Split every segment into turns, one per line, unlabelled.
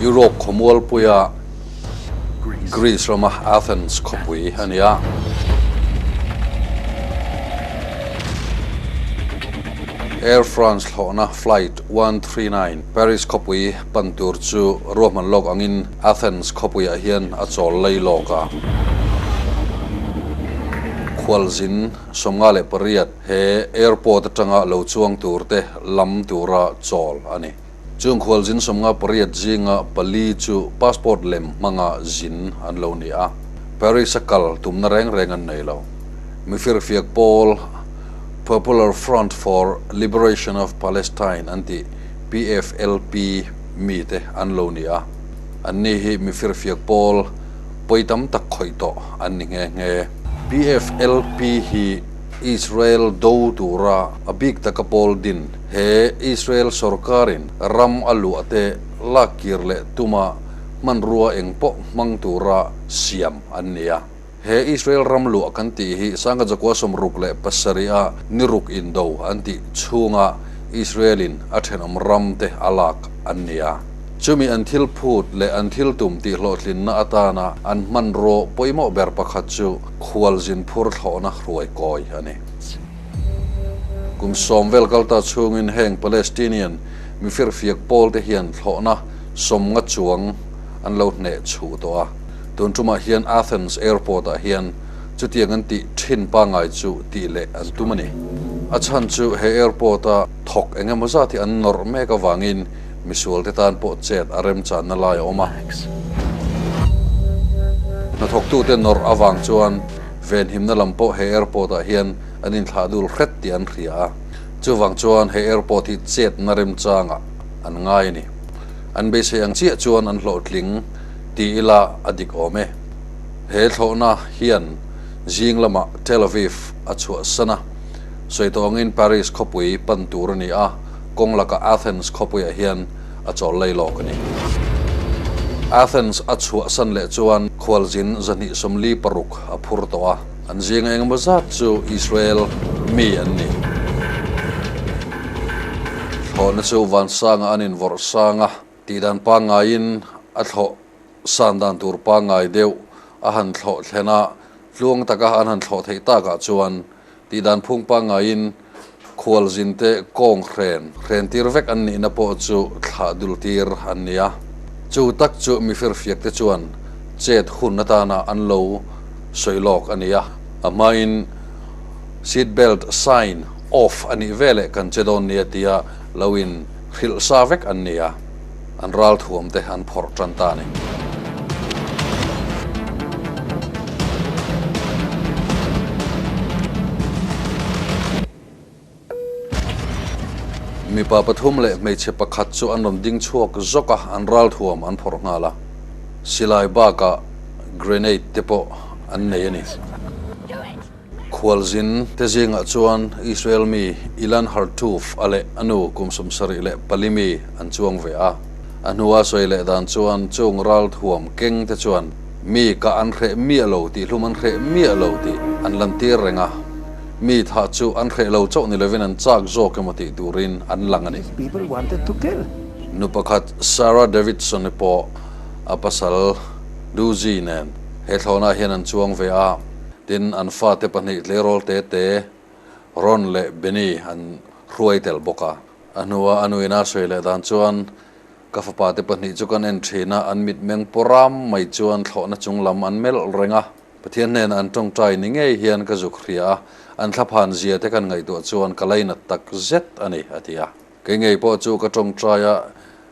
Europe khawmual puia Greece rama Athens khawpui a ni a. Air France hlawhna flight one three nine Paris khawpui pan tur chu ruahman lawk angin Athens khawpuiah hian a chawl lei lawk a, khualzin sawmnga leh pariat he airport atanga lo chuang tur te lam tura chawl a ni. Chung khualzin sawmnga pariat zinga pali chu passport lem hmanga zin an lo ni a, Paris a kal tumna reng reng an nei lo. Mifir fiak pawl Popular Front for Liberation of Palestine an tih, PFLP, mite an lo ni a, anni hi mi firfiak pawl pawi tam tak khawih tawh an ni nghe nghe. PFLP hi Israel do tura a bik taka pawl din, he Israel sorkarin ram a luah te lakkir leh tuma hmanrua eng pawh hmang tura siam an ni a. He Israel ram luah kan tih hi Sangha Jakuaa sawmruk leh pasarihah niruk indo an tih chhunga Israelin a thenawm ramte a lak an ni a. Chumi an thil phut leh an thil tum tih hlawhtlinna atana an hmanraw pawimawh ber pakhat chu khual zin phur thlawhna hruai kawi a ni. Kum sawm vel kal ta chhungin heng Palestinian mi firfiak pawlte hian thlawhna sawmnga chuang an lo hneh chhuh tawh a. Tun tumah hian Athens Airport ah hian chutiang an tih thin pangai chu tih leh an tum a ni. A chhan chu he airport a thawk eng emaw zat hi an nawrh mek avangin misual te tan pawh chet a remchanna lai a awm a. Hnathawktu te nawrh avang chuan venhimna lam pawh he airport ah hian an inthlah dul hret tih an hria a. Chuvang chuan he airport hi chetna remchang ah an ngai a ni. An beisei ang chiah chuan an hlawhtling. ti ila a dik awm e. He thlawhna hian zing lama Tel Aviv a chhuahsan a, sawi tawngin Paris khawpui pan tur a ni a, kawng laka Athens khawpuiah hian a chawl lei lawk a ni. Athens a chhuahsan leh chuan khualzin zahnih sawmli paruk a phur tawh a, an zing engemaw zat chu Israel mi an ni. Thlawhna chu vansanga an invorh sang a. Tih dan pangaiin a thlawh san dan tur pangai deuh a han thlawh thlen a, tluang taka an han thlawh theih tak ah chuan tih dan phung pangaiin khual zin te kawng hren hren tir vek an nihna pawh chu thlah dul tir an ni a. Chu tak chu mi firfiak te chuan chet hun atan ah an lo sawi lawk a ni a, a hmain seat belt sign off a nih veleh kan che dawn nia tia lo in Hrilh sa vek an ni a, an ral thuam te an phawrh tan ta ni. Mipa pathum leh hmeichhe pakhat chu an rawn ding chhuak zawk a, an ral thuam an phawrh nghal a, silai bakah grenade te pawh an nei a ni. Khualzin te zingah chuan Israel mi Ilan Hartuf a leh a nu kum sumsarih leh pali mi an chuang ve a. A hnua sawi leh dan chuan chung ral thuam keng te chuan mi kah an hreh miah lo tih hlum an hreh miah lo tih an lantir reng a. Mi thah chu an hreh lo chauh ni lovin an chak zawk emaw tih turin an lang a ni. Nu pakhat Sarah Davidson i pawh a pasal Lucy nen he thlawnah hian an chuang ve a. Tin, an fate pahnih Tleirawl Tete, Ron leh Benny an hruai tel bawk a. A hnua a nuina sawi leh dan chuan, Ka fapa te pahnih chu kan en thin a, an mitmeng pawh ram mai chuan thlawhna chung lam an melh reng a. Pathian hnenah an tawngtai ni ngei hian ka zuk hria a, an thlaphan zia te kan ngaihtuah chuan ka lainat tak zet a ni, a ti a. Kei ngei pawh chu ka tawngtai a,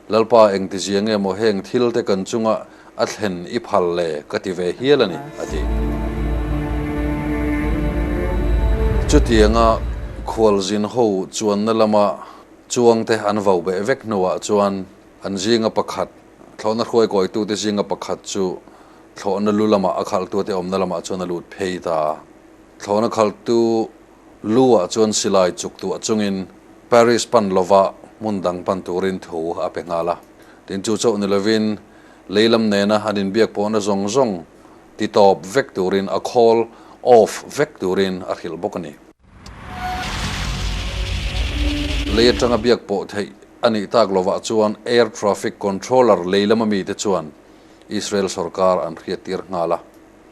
Lalpa engtizia nge maw heng thil te kan chunga a thlen i phal le ka ti ve hial a ni, a ti. Chutianga Khualzin ho chuanna lama chuang te an vau beh vek hnuah chuan an zinga pakhat, thlawhna hruai kawitute zinga pakhat chu thlawhna lu lamah a khalhtute awmna lamah chuan a lut phei ta a. Thlawhna khalhtu Lu-a chuan silai chuk duh chungin Paris pan lova hmun dang pan turin thu a pe nghal a. Tin chu chauh ni lovin leilam nena an inbiak pawhna zawng zawng ti tawp vek turin a call off vek turin a hrilh bawk a ni. Lei atanga biak pawh theih a nih tak lovah chuan Air Traffic Controller leilam a mite chuan Israel sorkar an hriattir nghal a.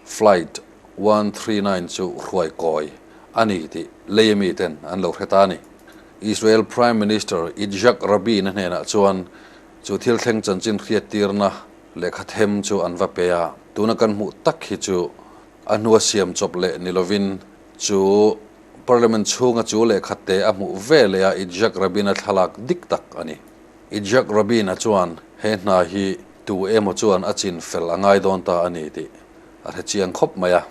Flight one three nine chu hruai kawi a ni tih Lae mi ten an lo hre ta a ni. Israel Prime Minister Itzhak Rabin-a hnenah chuan chu thil thleng chanchin hriattirna lehkha them chu an va pe a. Tuna kan hmuh tak hi chu a hnua siam chawp leh ni lovin chu Parliament chhunga chu lehkha te a hmuh veleh a Itzhak Rabin-a thlalak dik tak a ni. Itzhak Rabin-a chuan he hna hi tu emaw chuan a chin fel a ngai dawn ta a ni tih a hrechiang khawp mai a.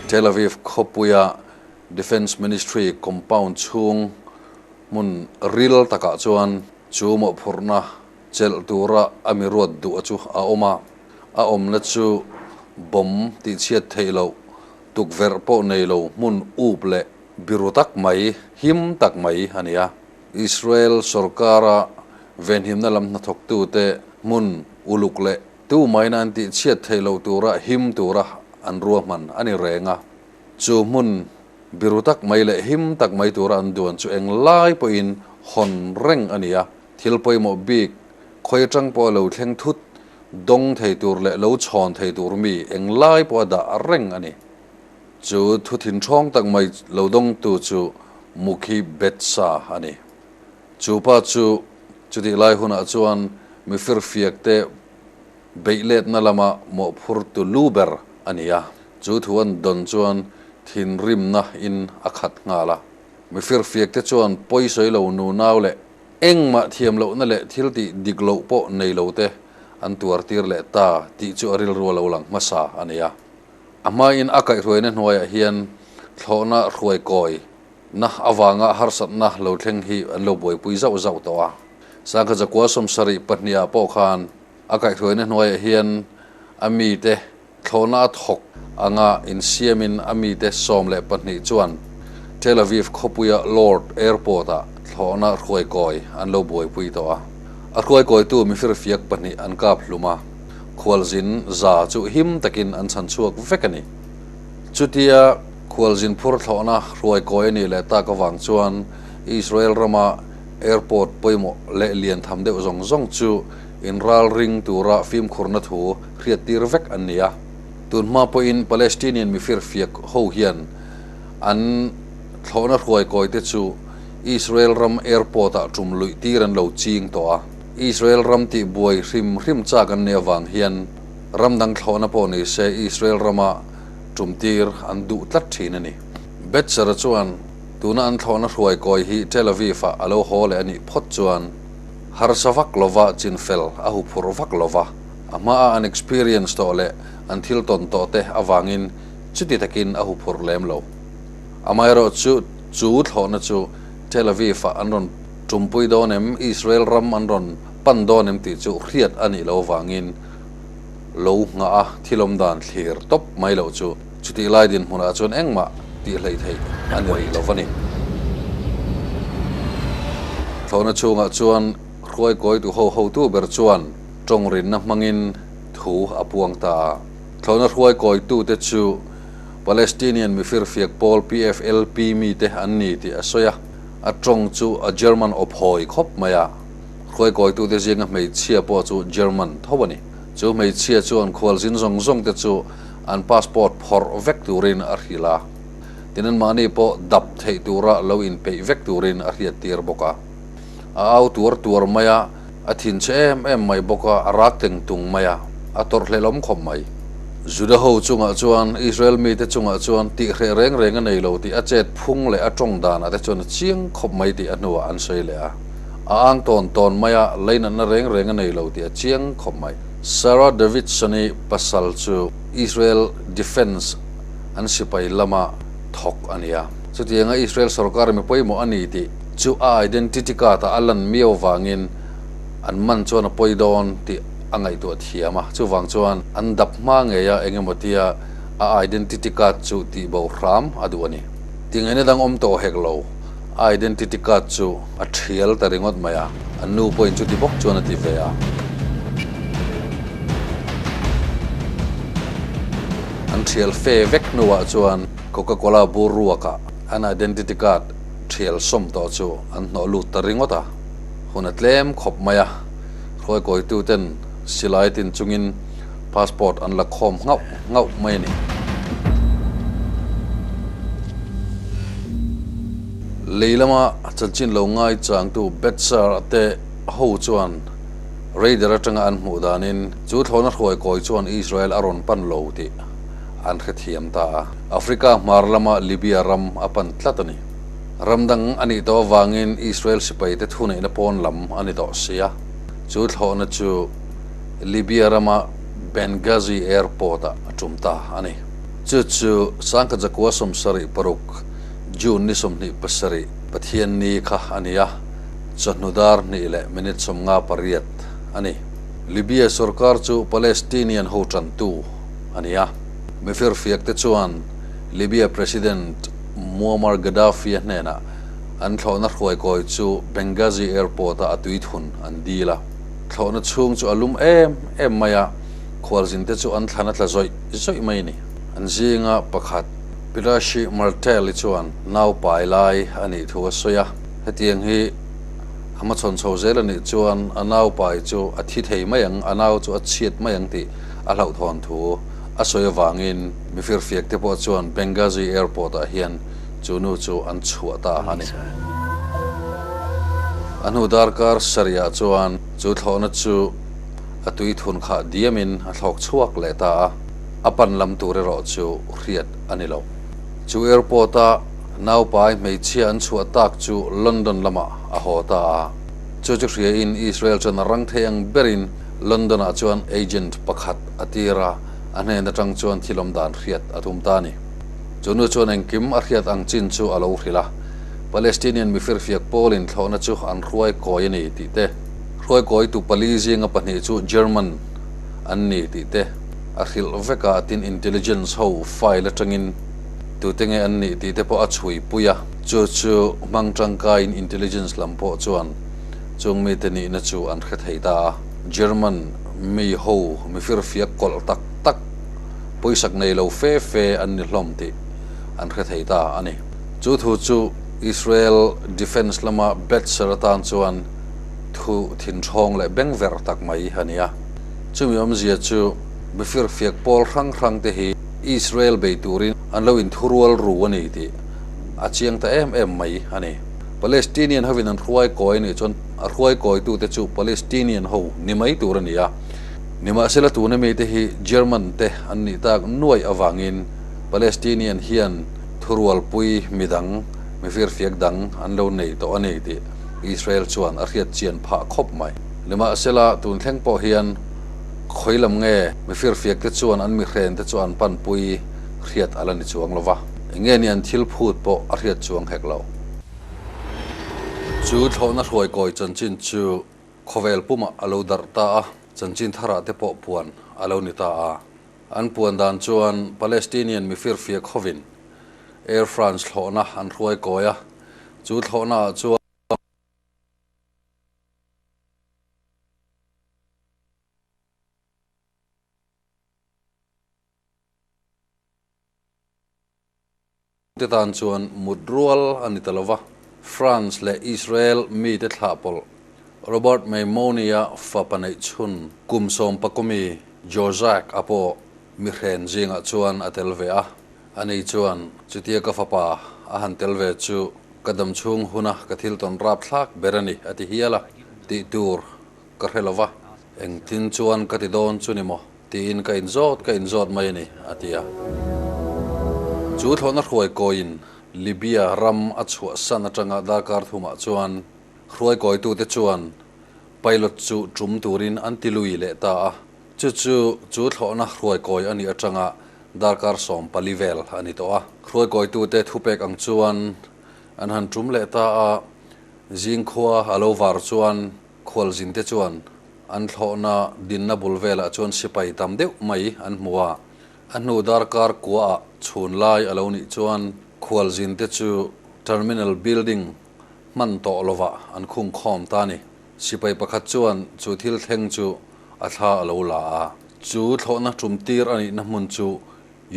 Tel Aviv khawpuia Defence Ministry compound chhung hmun ril takah chuan chu mawhphurhna chelh tura a mi ruat duh chu a awm a, a awmna chu bomb tihchhiat theih loh, tukverh pawh nei lo hmun up leh biru tak mai, him tak mai a ni a. Israel sorkara venhimna lam hnathawktute hmun uluk leh tumaina an tihchhiat theih loh tura him tura an ruahman a ni reng a. Chu hmun biru tak mai leh him tak mai tura an duan chu eng lai pawhin hawn reng a ni a, thil pawimawh bik, khawi atang pawh a lo thleng thut dawng thei tur leh lo chhawn thei tur mi eng lai pawh a dah reng a ni. Chu thu thinhrawng tak mai lo dawng tu chu Mukhi Betsa a ni. Chu pa chu chutih lai hunah chuan mi firfiak te beih letna lama mawhphur tu lu ber a ni a, chu thu an dawn chuan thinrimna in a khat nghal a. Mi firfiak te chuan pawi sawi lo nu nau leh engmah thiam lohna leh thil tih dik loh pawh nei lo te an tuar tir leh ta tih chu a rilru a lo lang hmasa a ni a. A hmaiin a kaihhruaina hnuaiah hian thlawhna hruai kawi na avanga harsatna lo thleng hi an lo buaipui zauh zauh tawh a. Sangkhaza Kualsawm sarih pahnih ah pawh khan a kaihhruaina hnuaiah hian a mite thlawhna a thawk anga insiamin a mite sawm leh pahnih chuan Tel Aviv khawpuia Lord Airport ah thlawhna hruai kawi an lo buaipui tawh a. A hruai kawitu mifir fiak pahnih an kap hlum a. khualzin za chu him takin an chhan chhuak vek a ni. Chutia khualzin phur thlawhna hruaikawi a nih leh tak avang chuan Israel rama airport pawimawh leh lian tham deuh zawng zawng chu inral ring tura fimkhurna thu hriattir vek an ni a. Tunhma pawhin Palestinian mi firfiak ho hian an thlawhna hruaikawite chu Israel ram airport-ah tum luihtir an lo ching tawh a. Israel ram tih buai hrim hrim chak an nei avang hian ram dang thlawhna pawh ni se Israel rama tum tir an duh tlat thin a ni. Betzera chuan tuna an thlawhna hruai kawi hi Tel Aviv-ah a lo haw leh a nih phawt chuan harsa vak lova chinfel a hu phur vak lo va, a hmaa an experience tawh leh an thil tawn tawh te avangin chuti takin a hu phur lem lo. Amaherawhchu chu thlawhna chu Tel Aviv-ah an rawn Tumpui dawn em, Israel ram an rawn pan dawn em tih chu hriat a nih loh vangin lo nghah a, thilawm dan thlir tawp mai loh chu. Chutih lai dinhmunah chuan engmah tih hleih theih a ni rih lo va ni. Thlawhna chungah chuan hruai kawi tu hohotu ber chuan tawngrinna hmangin thu a puang ta a. Thlawhna hruai kawitute chu Palestinian mi firfiak pawl, PFLP, mite an ni tih a sawi a. a tawng chu a German awp hawi khawp mai a, hruai kawitute zinga hmeichhia pawh chu German tho a ni. Chu hmeichhia chuan khualzin zawng zawngte chu an passport phawrh vek turin a hrilh a, tin an mahni pawh dap theih tura lo inpeih vek turin a hriattir bawk a, a au tuar tuar mai a. A thin che em em mai bawk a, a rak teng tung mai a, a tawrh hlelawm khawp mai. Juda ho chungah chuan, Israel mite chungah chuan tih hreh reng reng a nei lo tih a chet phung leh a tawng danah te chuan a chiang khawp mai tih a hnuah an sawi leh a. A ang tawn tawn mai a, leinatna reng reng a nei lo tih a chiang khawp mai. Sarah Davidson-i pasal chu Israel Defence an sipai lama thawk a nia. Chutianga Israel sorkar mi pawimawh a ni tih Chu a identity card ah a lan miau vangin an man chuan a pawi dawn tih a ngaihtuah thiam a, chuvang chuan an dap hma ngei a, engematia a identity card chu tih boh hram a duh a ni. Tingaina dang awm tawh hek lo, a identity card chu a thial ta ringawt mai a, a nu pawhin chuti bawk chuan a ti ve a. An thial fe vek hnuah chuan Coca-Cola bur ruakah an identity card. thial sawm tawh chu an hnawh lut ta ringawt a, hun a tlem khawp mai a, hruaikawituten silai tin chungin passport an la khawm nghauh nghauh mai a ni. Lei lama chanchin lo ngai changtu Betsar te ho chuan Raider atanga an hmuh danin chu thlawna hruaikawi chuan Israel a rawn pan lo tih an hrethiam ta a. Africa hmar lama Libya ram a pan tlat a ni. Ram dang a nih tawh avangin Israel sipaite thuneihna pawn lam a ni tawh si a, chu thlawhna chu Libya rama Benghazi Airport ah a tum ta a ni. Chu chu Sangkhat Zakua sawmsarih paruk, June ni sawmhnih pasarih, Pathian ni kha a ni a, chawhnu dar hnih leh minute sawmnga pariat a ni. Libya sorkar chu Palestinian hotrantu, a ni a. Mi firfiakte chuan Libya President Muammar Gaddafi-a hnenah an thlawhna hruaikawi chu Benghazi Airport-ah a tuithun an dil a, thlawhna chhung chu a lum em em mai a, khualzinte chu an thlan a tla zawih zawih mai a ni. An zinga pakhat, Pirashi Martelli chuan naupa i lai a nih thu a sawi a, hetiang hi a hmachhawn chho zel a nih chuan a naupai chu a thi thei mai ang, a nau chu a chhiat mai ang tih, a hlauhthawn thu a sawi avangin mifir fiak te pawh chuan Benghazi Airport ah hian chu nu chu an chhuah ta a ni. A hnu darkar sarihah chuan chu thlawhna chu a tui thun khah diamin a thlawk chhuak leh ta a, a pan lam tur erawh chu hriat a ni lo. Chu airport ah naupai hmeichhia an chhuah tak chu London lamah a haw ta a, chu chu hria in Israel chuan a rang thei ang berin London ah chuan agent pakhat a tir a, a hnen atang chuan thilawm dan hriat a tum ta a ni. Chu nu chuan engkim a hriat ang chin chu a lo hrilh a, Palestinian mifir fiak pawlin thlawhna chu an hruai kawi a ni tih te, hruai kawi tu pali zinga pahnih chu German an ni tih te a hrilh vek a, tin intelligence ho file atangin tute nge an nih tih te pawh a chhuipui a. Chu chu hmang tangkaiin intelligence lam pawh chuan Chung mite nihna chu an hre thei ta a, German mi ho mifir fiak kawlh tak tak, puisak nei lo fe fe an ni hlawm tih an hre thei ta a ni. Chu thu chu Israel Defence lama Betzer atan chuan thu thinhrawng leh beng ver tak mai a ni a. Chumi awmzia chu mifir fiak pawl hrang hrang te hi Israel bei turin an lo inthurual ru a ni tih a chiang ta em em mai a ni. Palestinian hovin an hruai kawi nih chuan a hruai kawitute chu Palestinian ho ni mai tur a ni a. Nimahsela tuna mite hi German te an nih tak nuaih avangin Palestinian hian thurualpui mi dang, mi firfiak dang an lo nei tawh a ni tih Israel chuan a hriat chian phah khawp mai. Nimahsela tun thleng pawh hian khawi lam nge mi firfiakte chuan an mihrente chu an panpui hriat a la ni chuang lo va. Enge nia an thil phut pawh a hriat chuang hek lo. Chu thlawhna hruai kawi chanchin chu khawvel pumah a lo darh ta a, chanchin tharah te pawh puan a lo ni ta a. An puan dan chuan Palestinian mi firfia khawvin Air France thlawhna an hruai kawi a, chu thlawhna ah chuan. te tan chuan mut rual a ni ta lo va, France leh Israel mite thlah pawlh, Robert Maimoniya fa paneihchhun kum sawm pakawmi Jozac a pawh mi hren zingah chuan a tel ve a, a ni chuan chutia ka fapa a han tel ve chu ka dam chhung huna ka thil tawn rap thlak ber a ni a ti hial a, tih tur ka hre lo va, engtin chuan ka ti dawn chu ni maw? Tiin ka inzawt ka inzawt mai a ni, a ti a. Chu thlawhna hruai kawiin Libya ram a chhuahsan atanga darkar thumah chuan hruai kawitute chuan pilot chu tum turin an ti lui leh ta a. Chu chu chu thlawhna hruai kawi a nih atanga darkar sawm pali vel a ni tawh a. Hruai kawitute thupek ang chuan an han tum leh ta a, zingkhua a lo var chuan Khualzin te chuan an thlawhna dinna bul velah chuan sipai tam deuh mai an hmu a, a hnu dar kar kuaah chhun lai a lo nih chuan Khualzin te chu Terminal Building hman tawh lovah an khung khawm ta a ni. Sipai pakhat chuan chu thil thleng chu a thla a lo la a, chu thlawhna tum tir a nihna hmun chu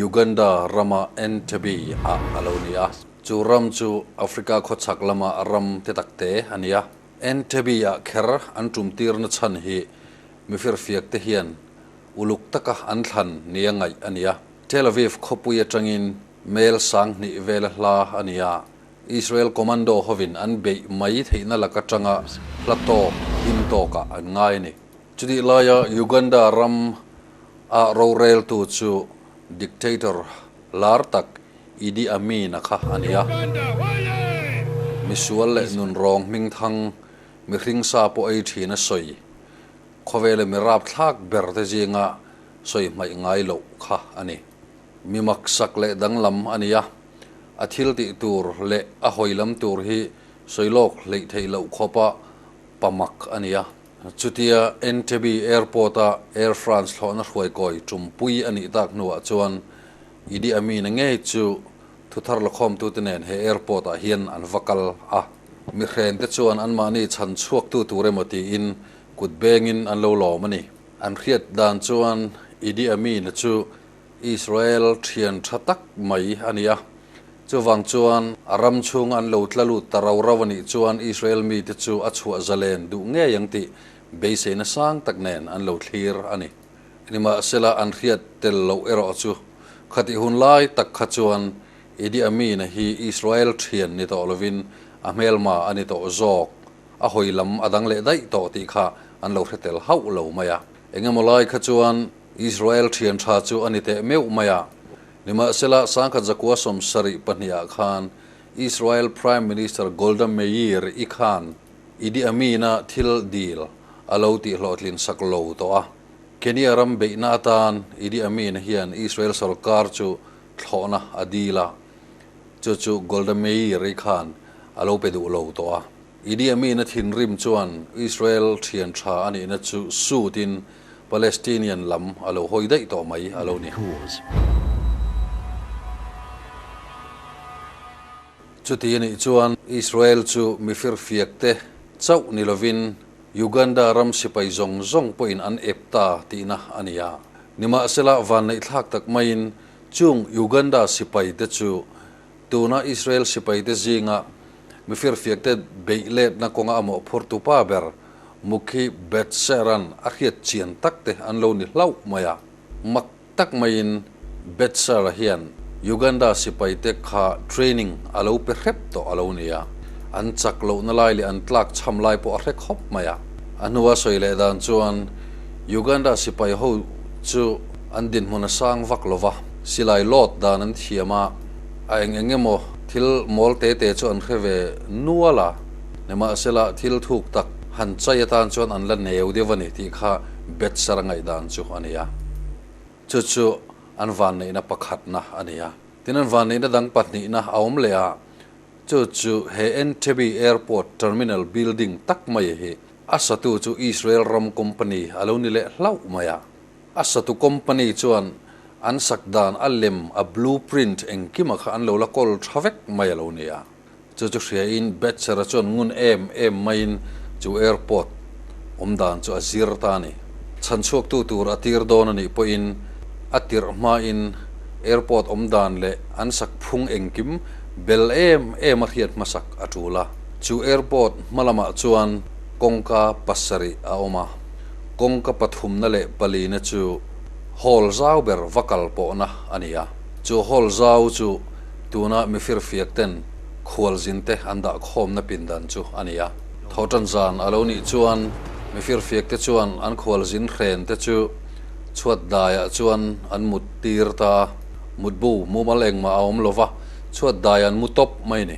Uganda rama Entebbe ah a lo ni a, chu ram chu Africa khawchhak lama ram te tak te a ni a. Entebbe-ah kher an tumtirna chhan hi mi firfiakte hian uluk taka an thlan nia ngaih a nia. Tel Aviv khawpui atangin Mel sang hnih vel a hla a nia, Israel commando hovin an beih mai theihna lak atanga hla tawk him tawkah an ngai a ni. Chutih laia Uganda ram ah roreltu chu dictator lar tak Idi Amin-a kha a ni a. Misual leh nunrawng hmingthang mi hringsa pawh ei thin a sawi. Khawvele mi rapthlak berte zinga sawi hmaih ngai loh kha a ni. Mi maksak leh danglam a ni a, a thiltih tur leh a hawilam tur hi sawi lawk hleih theih loh khawpa pamak a ni a. Chutia Entebbe Airport-a Air France thlawhna hruaikawi tumpui a nih tak hnuah chuan, ED a mi na ngei chu thuthar lawkhawmtute nen he airport ah hian an va kal a. Mihren te chuan anmahni chhan chhuaktu tur emaw tiin kut bengin an lo lawm a ni. An hriat dan chuan Idi Amin-a chu Israel thian tha tak mai a ni a. Chuvang chuan a ram chhunga an lo tla lut ta rau rau a nih chuan Israel mite chu a chhuah zalen duh ngei ang tih beiseina sang tak nen an lo thlir a ni. Nimahsela an hriat tel loh erawh chu, khatih hun lai tak kha chuan Idi Amin-a hi Israel thian ni tawh lovin a hmelma a ni tawh zawk, a hawi lam a dang leh daih tawh tih kha an lo hre tel hauh lo mai a. Engemaw lai kha chuan Israel thian tha chu a ni teh meuh mai a. Nimahsela, sangkhat zakua sawm sarih pahnih ah khan Israel Prime Minister Golda Meir-i khan, Idi Amina thil dil a lo tih hlawhtlin sak lo tawh a. Kenya ram beihna atan Idi Amin hian Israel sawrkar chu thlawhna a dil a, chu chu Golda Meir-i khan a lo pe duh lo tawh a. Idi Amin-a thinrim chuan Israel thianṭha a nihna chu suit in Palestinian lam a lo hawi daih tawh mai a lo ni. Chuti a nih chuan Israel chu mi firfiak te chauh ni lovin Uganda ram sipai zawng zawng pawhin an ep ta tihna a ni a. Nimahsela vanneihthlak tak maiin chung Uganda sipai te chu tuna Israel sipai te zinga mi firfiak te beih letna kawnga amaw phur tupa ber Mukhi Betseran a hriat chian tak te an lo ni hlauh mai a. Mak. tak maiin Betsara hian Uganda sipaite kha training a lo pe hrep tawh a lo ni a, an chak lohna lai leh an tlak chham lai pawh a hre khawp mai a. A hnua sawi leh dan chuan Uganda sipai ho chu an dinhmun a sang vak lo va, silai lawt dan an thiam a, a eng eng emaw thil mawl te te chu an hre ve nual a, nimahsela thil thuk tak han chai atan chuan an la neu deuh a ni tih kha Betsara ngaihdan chu a ni a, chu chu an vanneihna pakhatna a ni a. Tin, an vanneihna dang pahnihna a awm leh a, chu chu he Entebbe Airport Terminal Building tak mai hi a satu chu Israel ram company a lo ni leh hlauh mai a. A satu company chuan an sak dan a lem, a blueprint engkima kha an lo la kawl tha vek mai a lo ni a. Chu chu hriain Becher-a chuan ngun em em maiin chu airport awm dan chu a zir ta a ni. Chhan chhuaktu tur a tir dawn a nih pawhin a tirh hmain airport awm dan leh an sak phung engkim bel em em a hriat hmasak a tul a. Chu airport hmalamah chuan kawngka pasarih a awm a, kawngka pathumna leh palina chu hall zau ber va kal pawhna a ni a. Chu hall zau chu. Tuna mifir fiak ten khual zin te an dah khawmna pindan chu a ni a. Tho tan zan a lo nih chuan mifir fiak te chuan an khual zin hren te chu chhuat dai ah chuan an mut tir ta a, mut bu mumal engmah a awm lo va, chhuat dai an mu tawp mai ni.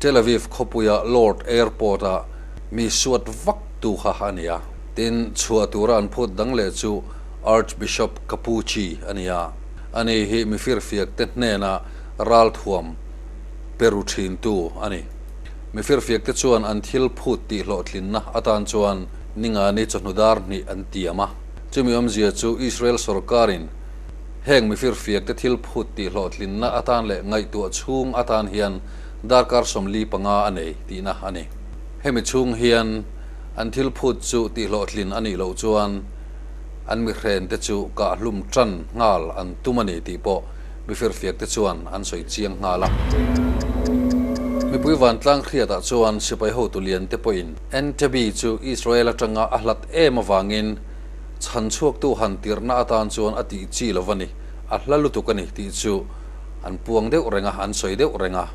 Tel Aviv khawpuia Lord Airport-a mi suat vak tu kha a ni a, tin chhuah tura an phut dang leh chu Archbishop Cappucci a ni a, a ni hi mi firfiakte hnena ralthuam pe ru thintu a ni. Mi firfiakte chuan an thil phut tihhlawhtlinna atan chuan Ningani chawhnu dar hnih an tiam a, chumi awmzia chu Israel sorkarin heng mi firfiakte thil phut tihhlawhtlinna atan leh ngaihtuah chhung atan hian darkar sawmli panga a nei tihna a ni. Hemi chhung hian an thil phut chu tihhlawhtlin a nih loh chuan an mihren te chu kahhlum ṭan nghal an tum a ni tih pawh mifirfiak te chuan an sawi chiang nghal a. Mipui vantlang hriatah chuan sipai hotu lian te pawhin Entebbe chu Israel aṭanga a hlat em avangin chhan chhuaktu han tirhna atan chuan a tih chi lo va ni, a hla lutuk a ni tih chu an puang deuh reng a, an sawi deuh reng a.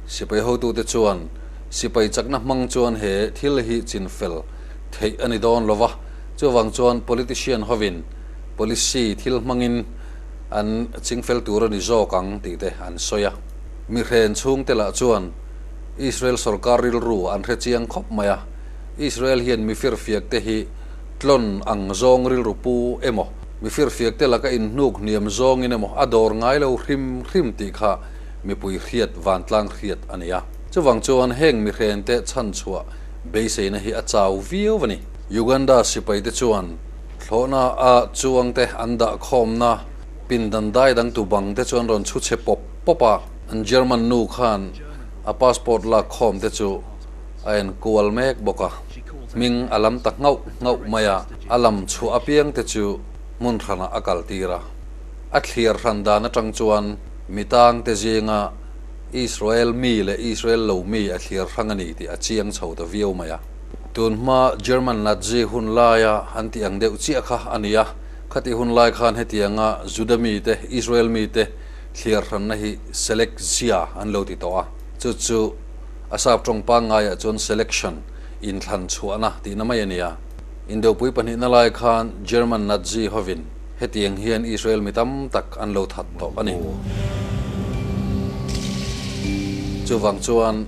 Sipai hotute chuan sipai chakna hmang chuan he thil hi chin fel theih a ni dawn lo va, chuvang chuan politician hovin policy thil hmangin an ching fel tur a ni zawk ang tih te an sawi a. Mi hren chhungte lah chuan Israel sorkar rilru an hre chiang khawp mai a, Israel hian mi firfiak te hi tlawn ang zawng rilru pu emaw, Mi firfiak te laka inhnuk hniam zawngin emaw a dawr ngai lo hrim hrim tih kha mipui hriat vantlang hriat a nia. Chuvang chuan heng mihrente chhanchhuah beiseina hi a chau viau a ni. Uganda sipaite chuan thlawhna a chuangte an dah khawmna pindan dai dangtu bangte chuan rawn chhu chhe pawp pawp a, an German nu khan a passport lak khawmte chu, a en kual mek bawk a, hming a lam ta nghauh nghauh mai a, a lam chhuah apiang te chu hmun hranah a kal tir a. A thliar hran dan atang chuan mi tang te zinga Israel mi leh Israel lo mi a thliar hrang a ni tih a chiang chho ta viau mai a. Tun hma German Nazi hun laia an tih ang deuh chiah kha a ni a, khati hun lai khan hetianga Juda mi te Israel mi te thliar hranna hi select zia an lo ti tawh a, chu chu A sap tawng pangaiah chuan selection, inthlan chhuahna, tihna mai a ni a. Indopui pahnihna lai khan German Nazi hovin hetiang hian Israel mi tam tak an lo that tawh a ni. Chuvang chuan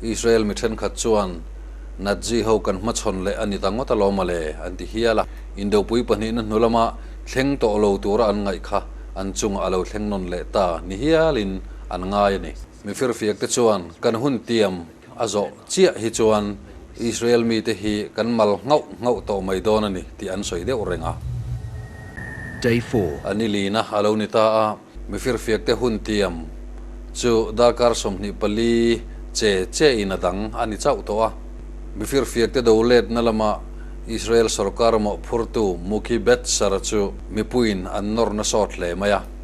Israel mi thenkhat chuan Nazi ho kan hmachhawn leh a ni ta ngawt alawm a le an ti hial a. Indopui pahnihna hnu lama thleng tawh lo tura an ngaih kha an chungah a lo thleng nawn leh ta ni hialin an ngai a ni. Mi firfiak te chuan kan hun tiam a zawh chiah hi chuan Israel mite hi kan mal nghauh nghauh tawh mai dawn a ni tih an sawi deuh reng a. Day four. A ni lina a lo ni ta a, mi firfiak te hun tiam chu darkar sawmhnih pali che che in a dang a ni chauh tawh a. Mi firfiak te do letna lama Israel sorkar mawhphurtu Muki Betsara chu mipuiin an nawrna sawt hle mai a.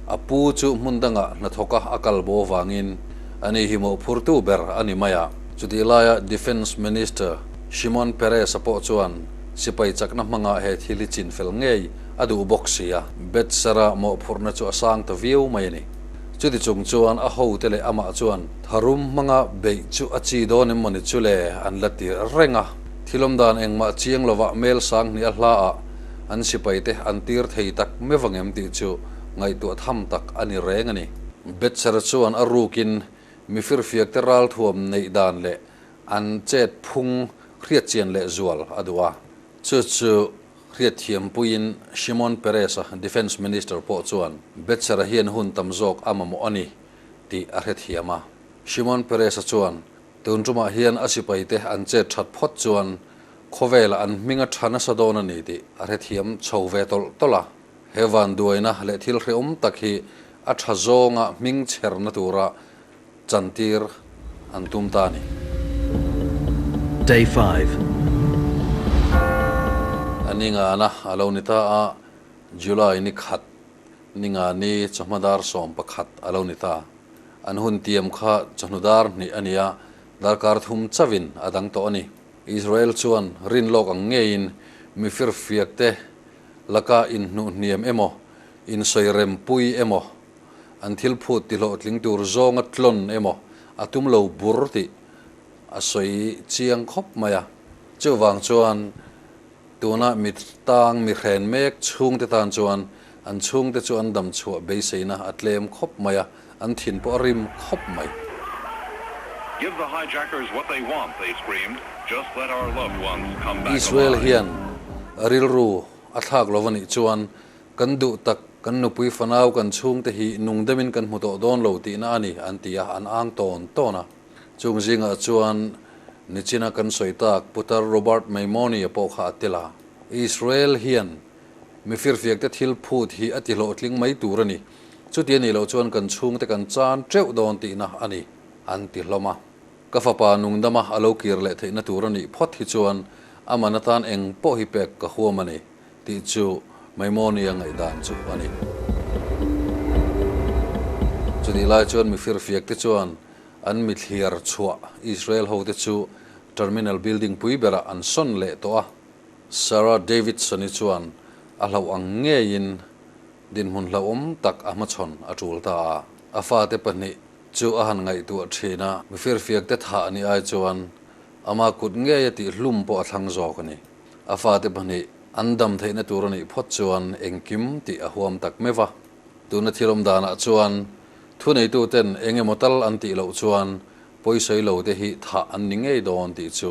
A pu chu hmun dangah hnathawka a kal bo vangin a ni hi mawhphurtu ber a ni mai a. Chutih laia Defence Minister Shimon Peres-a pawh chuan sipai chakna hmangah he thil hi chin fel ngei a duh bawk si a. Bedsara mawhphurhna chu a sang ta viau mai a ni. Chuti chung chuan a hote leh amah chuan tharum hmanga beih chu a chi dawn em mawni chule an la tirh reng a. Thilawm dan engmah chiang lovah Hmelsang hnih a hla ah an sipai te an tir thei tak meuh vangem tih chu ngaihtuah tham tak a ni reng a ni. Betsera chuan a rukin mi firfiak te ral thuam neih dan leh an chet phung hriatchian leh zual a duh a. Chu chu hriatthiam puiin Shimon Peres a Defence Minister pawh chuan Betsera hian hun tam zawk a mamawh a ni tih a hrethiam a. Shimon Peres-a chuan tun tumah hian a sipai te an chet that phawt chuan Khawvela an hming a tha nasa dawn a ni tih a hrethiam chho ve tawlh tawlh a. He vanduaina leh thil hrehawm tak hi a tha zawnga hming chherna tura chantir an tum ta a ni. Day five. A ni ngana a lo ni ta a, July ni khat ni ngani chawhma dar sawm pakhat a lo ni ta. An hun tiam kha chawhnu dar hnih a ni a, darkar thum chauhin a dang tawh a ni. Israel chuan rin lawk ang ngeiin mi firfiakte laka inhnuhniam emaw, insawi rempui emaw, an thil phut tihlawhtling tur zawnga tlawn emaw a tum lo bur tih a sawi chiang khawp mai a. Chuvang chuan tuna mit tang mi hren mek chhungte tan chuan an chhungte chu an damchhuah beiseina a tlem khawp mai a. An thin pawh a rim khawp mai. Give the hijackers what they want, they screamed, just let our loved ones come back alive. Israel hian rilru a thlak lo va nih chuan kan duh tak kan nupui fanau kan chhungte hi nungdem in kan hmu tawh dawn lo tihna a ni an ti a, an ang tawn tawn a. Chung zingah chuan nichina kan sawi tak Putar Robert Maimoney-a pawh kha a tel a, Israel hian Mi firfiakte thil phut hi a tihlawhtling mai tur a ni. Chuti a nih loh chuan kan chhungte kan chan teuh dawn tihna a ni, an ti hlawm a. Ka fapa nungdama a lo kir leh theihna tur a nih phawt hi chuan amahna atan eng pawh hi pek ka huam a ni tih chu Maimonia ngaihdan chu a ni. Chutih lai chuan mi firfiakte chuan an mithliar chhuah Israel hote chu Terminal Building pui berah an sawn leh tawh a. Sarah Davidson-i chuan a hlauh ang ngeiin dinhmun hlauhawm tak a hmachhawn a tul ta a. A fate pahnih chu a han ngaihtuah thin a, mi firfiakte thah a nih ai chuan amah kut ngei a tih hlum pawh a thlang zawk a ni. A fate pahnih an dam theihna tur a nih phawt chuan engkim tih a huam tak meuh a. Tuna thil awm danah chuan thuneituten eng emaw tal an tih loh chuan pawisawi lote hi thah an ni ngei dawn tih chu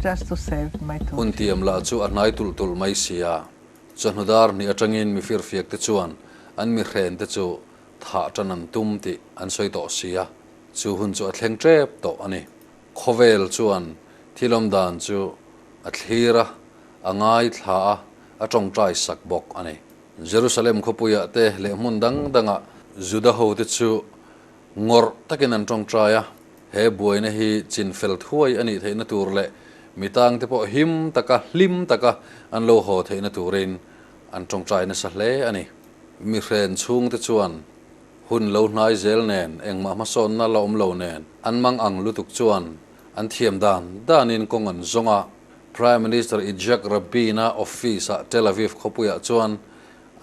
just to save my two Hunti am lah chu a hnai tulh tulh mai sia. Chawhnu dar hnih atangin mi firfiak te chuan an mi hren te chu thah tan an tum tih an sawi tawh sia. Chu hun chu a thleng tep tawh a ni. Khawvel chuan thilawm dan chu a thlir a, a ngaithla a, a tawngtai sak bawk a ni. Jerusalem khawpuiah te leh hmun dang dangah Juda hote chu Ngawrh takin an ṭawngṭai a, he buaina hi chin fel thuai a nih theihna tur leh mi tangte pawh him taka, hlim taka an lo haw theihna turin an ṭawngṭai nasa hle a ni. Mi hren chhungte chuan hun lo hnai zel nen, engmah hmasawnna la awm lo nen an mang ang lutuk chuan an thiam dan danin kawng an zawng a, Prime Minister Itzhak Rabin-a office-a Tel Aviv khawpuiah chuan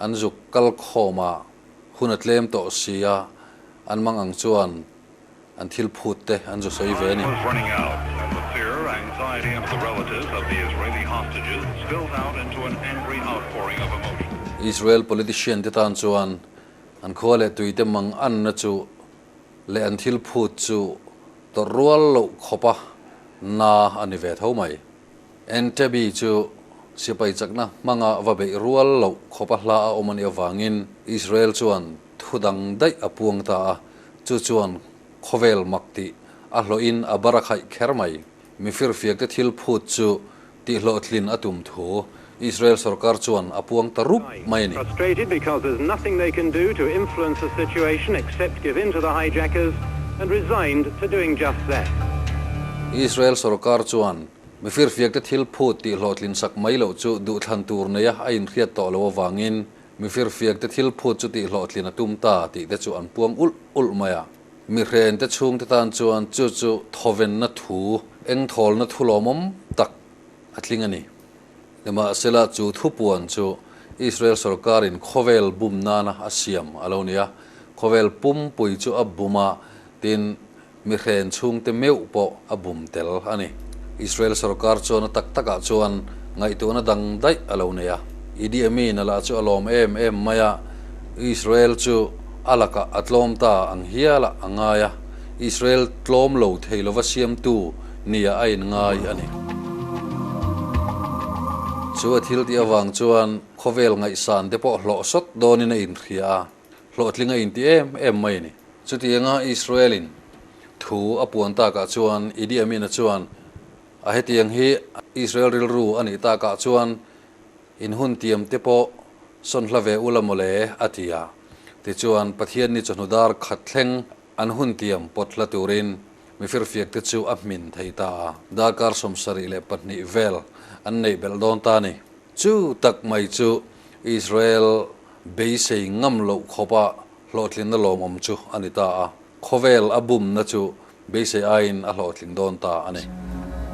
an zuk kal khawmah Hun a tlem tawh si a, an mang ang chuan an thil phut te an zu sawi ve a ni. Israel politician te tan chuan an khua leh tui te mang an na chu leh an thil phut chu tawrh rual loh khawpa na a ni ve tho mai. Entebbe chu sipai chakna hmanga va beih rual loh khawpa hla a awm a nih avangin Israel chuan thu dang daih a puang ta a, chu chuan khawvel mak tih a hlawhin a barakhai kher mai. Mifirfiakte thil phut chu tihhlawhtlin a tum thu Israel sorkar chuan a puang ta rup mai a ni. Israel sorkar chuan mi firfiakte thil phut tih hlawh tlin sak mai loh chu duhthlan tur neia a inhriat tawh lo avangin mi firfiakte thil phut chu tih hlawh tlin a tum ta tih te chu an puang ulh ulh mai a. Mi hrente chhungte tan chuan chu chu thawvenna thu, engthawlna thu lawmawm tak a tling a ni. Nimahsela, chu thupuan chu Israel sorkarin khawvel bum nana a siam a lo ni a, khawvel pumpui chu a bum a, tin, mi hren chhungte meuh pawh a bum tel a ni. Israel sorkar chuan a tak takah chuan ngaihtuahna dang daih a lo nei a. Idi Amin-a lah chu a lawm em em mai a, Israel chu a lakah a tlawm ta ang hial a a ngai a, Israel tlawm lo thei lova siamtu, nia a inngai a ni. Chu a thil tih avang chuan khawvel ngaihsan te pawh hlawh sawt dawnin a inhria a, hlawhtling a inti em em mai a ni. Chutianga Israel-in thu a puan takah chuan Idi Amin-a chuan a hetiang hi Israel rilru a nih takah chuan inhun tiam te pawh sawn hla ve ula mawle a ti a, tichuan Pathian-ni chawhnu dar khat thleng An hun tiam pawt hla turin mi firfiakte chu a hmin thei ta a, darkar sawm sarih leh pahnih vel an neih belh dawn ta a ni. Chu tak mai chu Israel beisei ngam loh khawpa hlawhtlinna lawmawm chu a ni ta a, khawvel a bumna chu beisei aiin a hlawhtlin dawn ta a ni.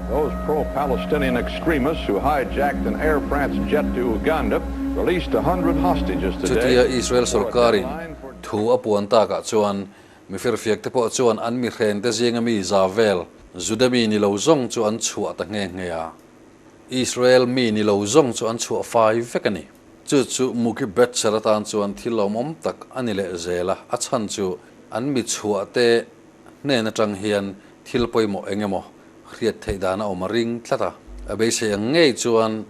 Those pro-Palestinian extremists who hijacked an Air France jet to Uganda released a hundred hostages today. Chutia Israel sorkarin Thu a puan takah chuan mi firfiak te pawh chuan an mi hreng te zinga mi za vel Juda mi ni lo zawng chu an chhuah ta nghe nghe a, Israel mi ni lo zawng chu an chhuah fai vek a ni. Chu chu Muki Betser atan chuan thil awm awm tak a ni leh zel a, a chhan chu an mi chhuah te hnen atang hian thil pawimawh eng emaw hriat theih dan a awm a ring tlat a, a beisei ang ngei chuan,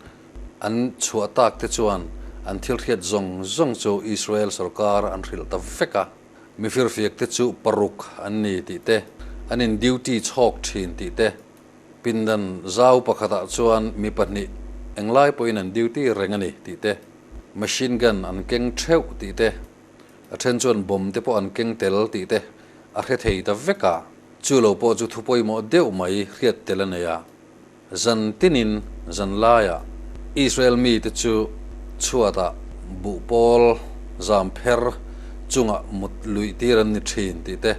An chhuah tak te chuan an thilhriat zawng zawng chu Israel sorkar an hrilh ta vek a, mi firfiak te chu paruk an ni tih te, an in duty chhawk thin tih te, pindan zau pakhatah chuan mi pahnih eng lai pawhin an duty reng a ni tih te, machine gun an keng theuh tih te, a then chuan bomb te pawh an keng tel tih te a hre thei ta vek a, chu lo pawh chu thu pawimawh deuh mai hriat tel a nei a. Zan tinin zan laiah Israel mite chu chhuatah buh pawl zam pher chungah mut luih tir an ni thin tih te,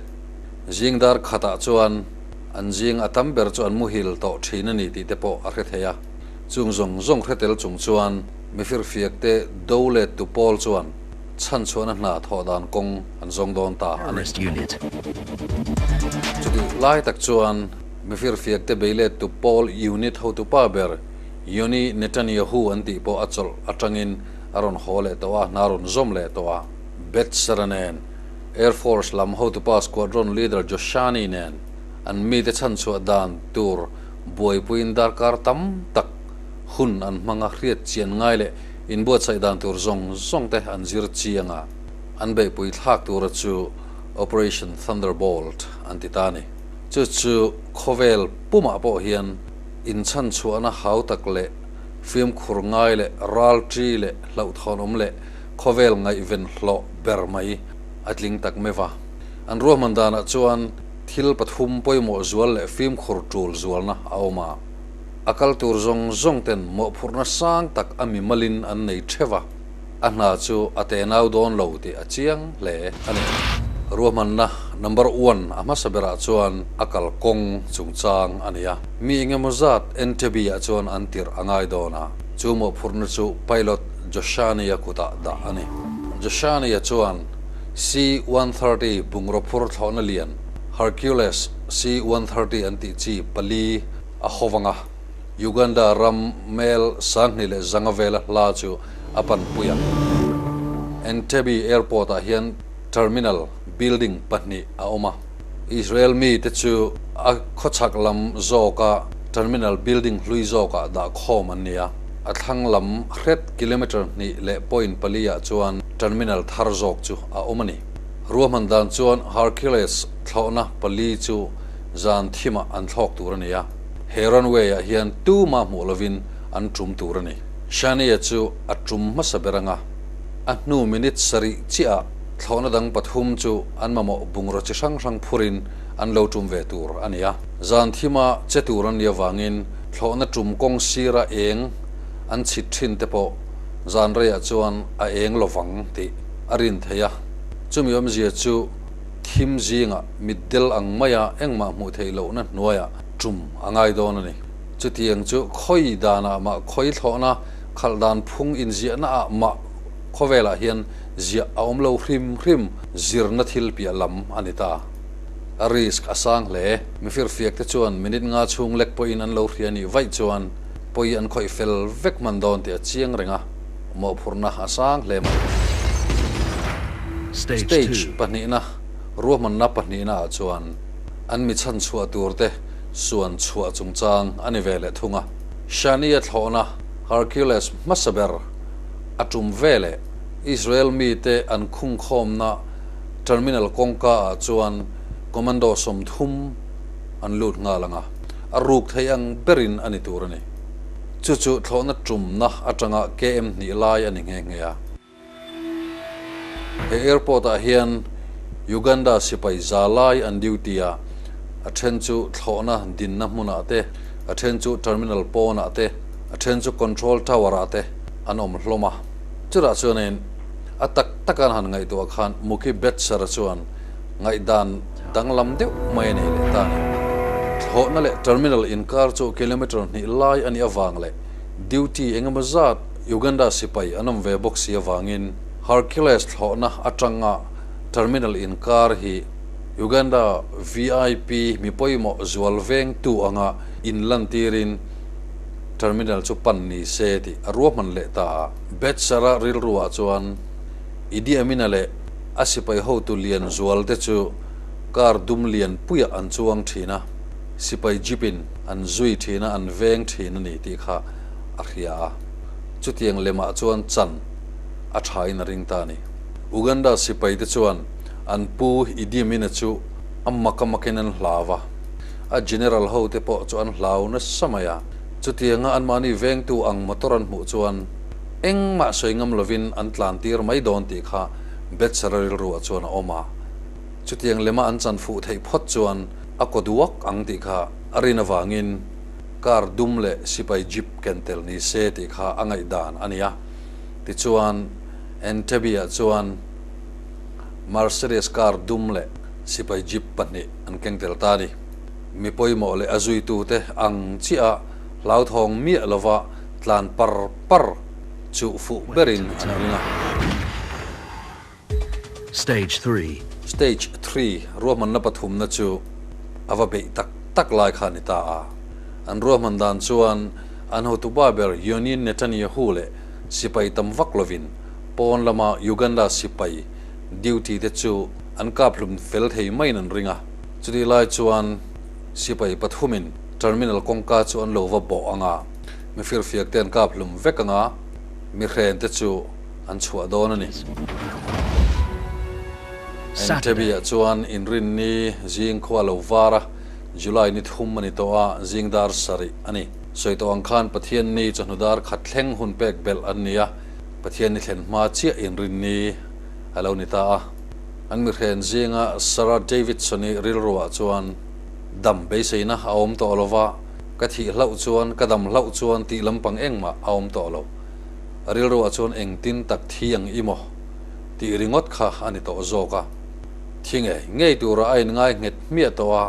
zingdar khatah chuan an zing a tam ber chu an muhil tawh thin a ni tih te pawh a hre thei a. Chung zawng zawng hretel chung chuan mifir fiak te do let tu pawl chuan chhanchhuahna hna thawh dan kawng an zawng dawn ta a ni. Chutih lai tak chuan Mifir fiakte beilet tu Paul unit hotupa ber Yoni Netanyahu an tih pawh a chawlh atangin a rawn haw leh tawh a, hna rawn zawm leh tawh a. Betzera nen, Air Force lam hotupa squadron leader Joshani nen an mite chhanchhuah dan tur buaipuiin darkar tam tak hun an hmanga hriatchian ngai leh inbuatsaih dan tur zawng zawng te an zir chiang a, an beihpui thlak tura chu Operation Thunderbolt an ti ta a ni. Chu chu khawvel pumah pawh hian inchhanchhuahna hau tak leh fimkhur ngai leh ralṭi leh hlauhthawnawm leh khawvel ngaihven hlawh ber mai a tling tak meuh a. An ruahman danah chuan thil pathum pawimawh zual leh fimkhur ṭul zualna a awm a, a kal tur zawng zawngten mawhphurhna sang tak a mimalin an nei ṭheuh a. a hna chu a te nau dawn lo tih a chiang hle a ni. Ruahmanna number one a hmasa berah chuan a kal kawng chungchang a nia. Mi engemaw zat entebi-ah chuan an tirh a ngai dawn a, chu mawhphurhna chu pilot Joshania kutah dah a ni. Joshania chuan C one thirty bungraw phur thlawhna lian Hercules C one thirty an tih chi pali a haw vang a. Uganda ram Hmel sanghnih leh zanga vela hla chu a pan pui ang. Entebbe Airport ah hian Terminal building pahnih a awm a, Israel mi te chu a khawchhak lam zawk a Terminal building hlui zawk ah dah khawm an nia, a thlang lam hret kilometre hnih leh point pali ah chuan Terminal thar zawk chu a awm a ni. Ruahman dan chuan Hercules thlawhna pali chu zan thim ah an thlawk tur a nia. he runway ah hian tuma hmuh lovin an tum tur a ni. Shania chu a tum hmasa ber anga a hnu minute sarih chiahah thlawhna dang pathum chu an mamawh bungraw chi hrang hrang phurin an lo tum ve tur a ni a. Zan thima che tur an nih avangin thlawhna tum kawng sira eng an chhit thin te pawh zan reiah chuan a eng lovang tih a rin theih a. Chumi awmzia chu Thim zingah mitdel ang maia engmah hmuh theih lohna hnuaia tum a ngai dawn a ni. Chutiang chu khawi danah mah khawi thlawhna, khalh dan phung inziahna ah mah khawvelah hian ziah a awm lo hrim hrim zirna thil piah lam a ni ta. A risk a sang hle. Mifir fiak te chuan minute nga chhung lek pawhin an lo hria nih vaih chuan pawi an khawih fel vek hman dawn tih a chiang reng a. mawhphurhna a sang hle mai. Stage pahnihna, Ruahmanna pahnihna ah chuan an mi chhan chhuah tur te suan chhuah chungchang a ni ve leh thung a. Shania thlawhna, Hercules hmasa ber a tum ve leh Israel mi te an khung khawmna terminal kawngka ah chuan commando sawmthum an lut nghal ang a, a ruk theih ang berin a ni tur a ni. Chu chu thlawhna tumna atanga KM hnih lai a ni nghe nghe a. He airport ah hian Uganda sipai za lai an duty a, a then chu thlawhna dinna hmunah te, a then chu terminal pawnah te, a then chu control tower ah te an awm hlawm a. Chutah chuan in a tak taka an han ngaihtuah khan Muki Betsara chuan Ngaihdan danglam deuh mai a nih leh ta ni. Thlawhna leh terminal inkar chu kilometre hnih lai a nih avang leh duty eng emaw zat Uganda sipai an awm ve bawk si avangin Hercules thlawhna atanga terminal inkar hi Uganda VIP mi pawimawh zual veng tu anga inlantirin terminal chu pan ni se tih a ruahman leh ta a. Bedsara rilruah chuan. Idi Amina leh a sipai hotu lian zual te chu car dum lian puiah an chuang thin a, sipai jeep in an zui thin a, an veng thin a ni tih kha a hria a. Chutiang lem ah chuan chan a tha in a ring ta a ni. Uganda sipai te chuan an pu Idi Amina chu a mak a mak in an hlau a, a general ho te pawh chu an hlau nasa mai a. Chutiang a an mahni vengtu ang motor an hmuh chuan, engmah sawi ngam lovin an tlantir mai dawn tih kha Betsara rilruah chuan a awm a, chutiang lema an chanfuh theih phawt chuan a kaw duak ang tih kha a rin avangin car dum leh sipai jeep ken tel ni se tih kha a ngaih dan a nia. Tichuan Entebbie-ah chuan Mercedes car dum leh sipai jeep pahnih an keng tel ta a ni. Mi pawimawh leh a zuitute ang chiaha hlauthawng miah lova tlan par par chuh fuh berin an ring a. Stage three. Stage three ruahmanna pathumna chu a va beih tak tak lai kha a ni ta a. An ruahman dan chuan an hotupa ber Yoniin Netanyahu leh sipai tam vak lovin pawn lama Uganda sipai duty te chu an kap hlum fel thei maiin an ring a. Chutih lai chuan sipai pathumin terminal kawngka chu an lo va bawh ang a. Mifir fiak te an kap hlum vek anga mi hren te chu an chhuah dawn a ni. Entebbe ah chuan inrin ni zing khua lo vara July ni thum a ni tawh a, zingdar sarih a ni. Sawi tawh ang khan Pathian ni chawhnu dar khat thleng hun pek belh an ni a, Pathian ni thlen hma chiah inrin ni a lo ni ta a. An mi hren zinga Sarah Davidson-i rilru ah chuan dam beiseina a awm tawh lo va, Ka thih hlauh chuan ka dam hlauh chuan tih lampang engmah a awm tawh lo. A rilruah chuan engtin tak thi ang i maw tih ringawt kha a ni tawh zawk a. Thi nge ngei tura a inngai nghet hmiah tawh a,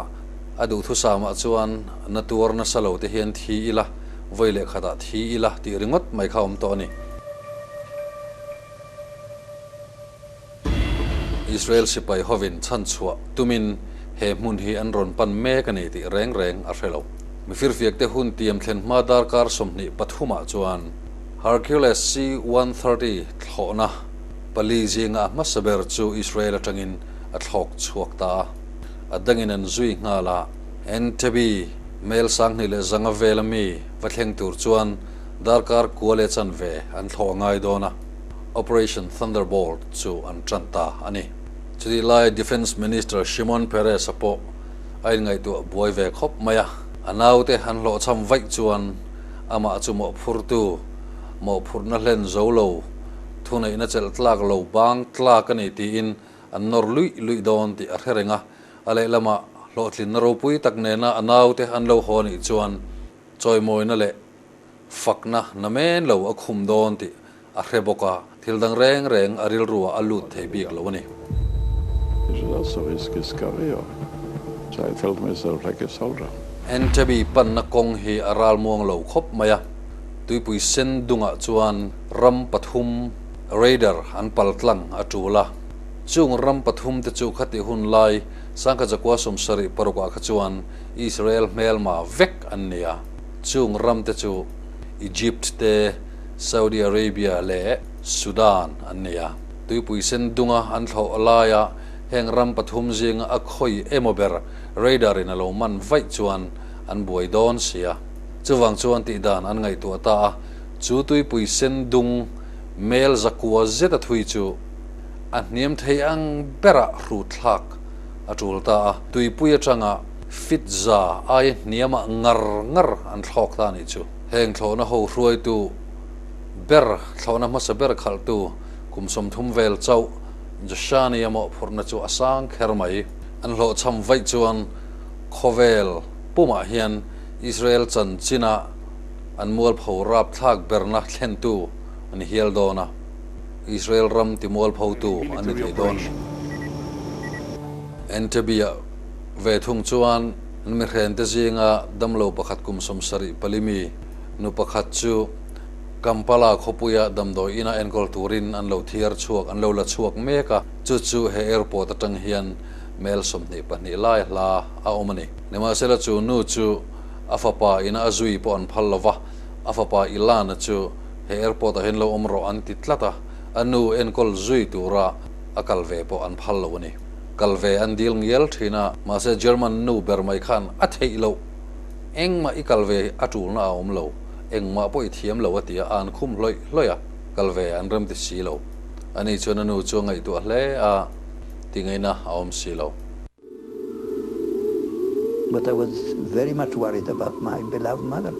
a duhthusâmah chuan na tuar nasa lo te hian thi i la, vawi leh khatah thi i la tih ringawt mai kha a awm tawh a ni. Israel sipai hovin chhan chhuah tumin he hmun hi an rawn pan mek a ni tih reng reng a hre lo. Mi firfiakte hun tiam thlen hma darkar sawmhnih pathumah chuan Hercules C one thirty thlawhna pali zinga a hmasa ber chu Israel atangin a thlawk chhuak ta a, a dangin an zui nghal a. Entebbe, Mel sanghnih leh zanga vel ami va thleng tur chuan darkar kua leh chanve an thlawh a ngai dawn a. Operation Thunderbolt chu an ṭan ta a ni. Chutih lai Defence Minister Shimon Peres-a pawh a inngaihtuah buai ve khawp mai a. A naute an hlawhchham vaih chuan amah chu mawhphurtu, mawhphurhna hlen zo lo, thuneihna chelh tlak lo bang tlak a ni tiin an nawr luih luih dawn tih a hre reng a. A lehlamah hlawhtlinna ropui tak nena a naute an lo haw nih chuan chawimawina leh, fakna na men lo a khum dawn tih a hre bawk a, thil dang reng reng a rilruah a lut thei bik lo a ni. Entebi panna kawng hi a ral muang lo khawp mai a, tuipui sen dungah chuan ram pathum Raider an pal tlang a tul a, chung ram pathum te chu khati hun lai Sangkhajakua sawmsarih parukah kha chuan Israel hmelma vek an ni a. Chung ramte chu Egypt te Saudi Arabia leh Sudan an nei a. Tuipui sen dunga an thlawh laia heng ram pathum zinga a khawi emaw ber radar in a lo man vaih chuan an buai dawn sia. Chuvang chuan tih dan an ngaihtuah ta a, chu tuipui sen dung mel zakua zeta thui chu a hniam thei ang berah hrut thlak a tul ta a, tuipui atanga. Fitza aia hniamah ngar ngar an thlawk ta nih chu. Heng thlawhna ho hruaitu ber, thlawhna hmasa ber khalhtu kum sawmthum vel chauh Joshani emaw phurhna chu a sang kher mai. An hlawhchham vaih chuan khawvel pumah hian Israel chanchin-a an mualpho rapthlak berna thlentu a ni hial dawn a, Israel ram timualphotu an ni thei dawn. Entebbe-ah Ve thung chuan mi hrente zinga damlo pakhat kum sawm sarih pali mi nu pakhat chu Kampala khawpuia damdawi ina enkawl turin an lo thiar chhuak, an lo la chhuak mek a. Chu chu he airport atang hian hmel sawmhnih pahnih lai hla a awm a ni. Nimahsela chu nu chu a fapa ina a zui pawh an phal lo va, a fapa Ilana chu he airport ah hian lo awm rawh an ti tlat a, a nu enkawl zui tura a kal ve pawh an phal lo a ni. kal ve an dil ngial thin a, mahse German nu ber mai khan a theih loh, engmah i kal ve a tulna a awm lo, engmah pawh i thiam lo a ti a, an khum hlawih hlawih a, kal ve an rem ti si lo. A ni chuan a nu chu a ngaihtuah hle a, ti ngaina a awm si lo. But I was very much worried about my beloved mother.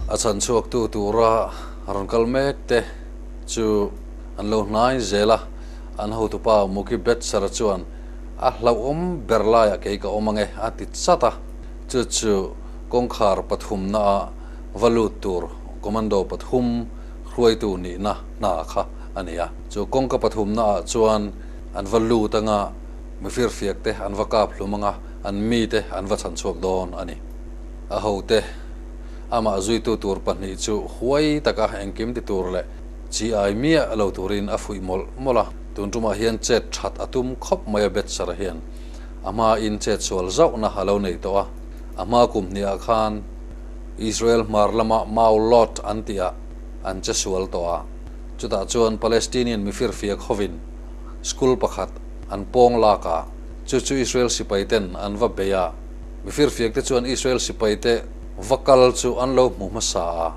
A chhan chhuaktu tura rawn kal mek te. chu an lo hnai zel a, an hotupa Muki Betsara chuan a hlauhawm ber laiah kei ka awm ange a ti chat a, chu chu kawngkhar pathumna ah va lut tur Commando pathum hruaitu nihna hna kha a ni a, chu kawngka pathumna ah chuan an va lut anga mi firfiak te an va kap hlum anga an mite an va chhan chhuak dawn a ni. A hote. Amah zuitu tur pahnih chu huai taka engkim ti tur leh chi ai miah lo turin a fuih mawlh mawlh a. Tun tumah hian chet that a tum khawp mai a Betsara hian. A hma in chet sual zauhna a lo nei tawh a. A hma kum hnih ah khan Israel hmar lama Maalot an tih ah an che sual tawh a. Chutah chuan Palestinian mi firfia khawvin school pakhat an pawng lak a. Chu chu Israel sipai ten an va bei a. Mi firfiakte chuan Israel sipaite va kal chu an lo hmu hmasa a,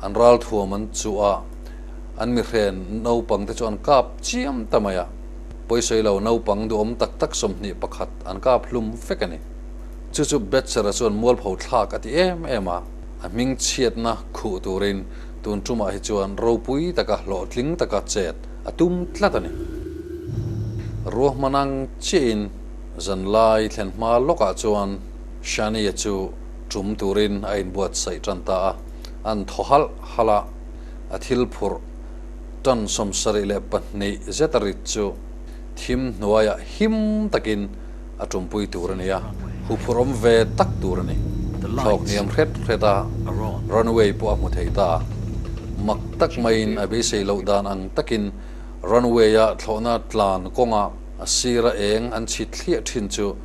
an ral thuam an chuh a, an mihren naupangte chu an kap chiam ta mai a, pawisawi lo naupang duhawm tak tak sawmhnih pakhat an kap hlum vek a ni. Chu chu Betzera chuan mualpho thlak a ti em em a, a hming chhiatna khuh turin tun tumah hi chuan ropui taka hlawhtling taka chet a tum tlat a ni. Ruahmanang chiahin. Zanlai thlen hma lawkah chuan Shania chu tum turin a inbuatsaih tan ta a, an thaw halh halh a, a thil phurh tan sawm sarih leh pahnih zeta rit chu thim hnuaiah him takin a tumpui tur a ni a, huphurhawm ve tak tur a ni. Thlawk hniam hret hret a, Runway pawh a hmu thei ta a, mak tak maiin a beisei loh dan ang takin Runway-a thlawhna tlan kawnga, A sir a eng an chhit thliah thin chu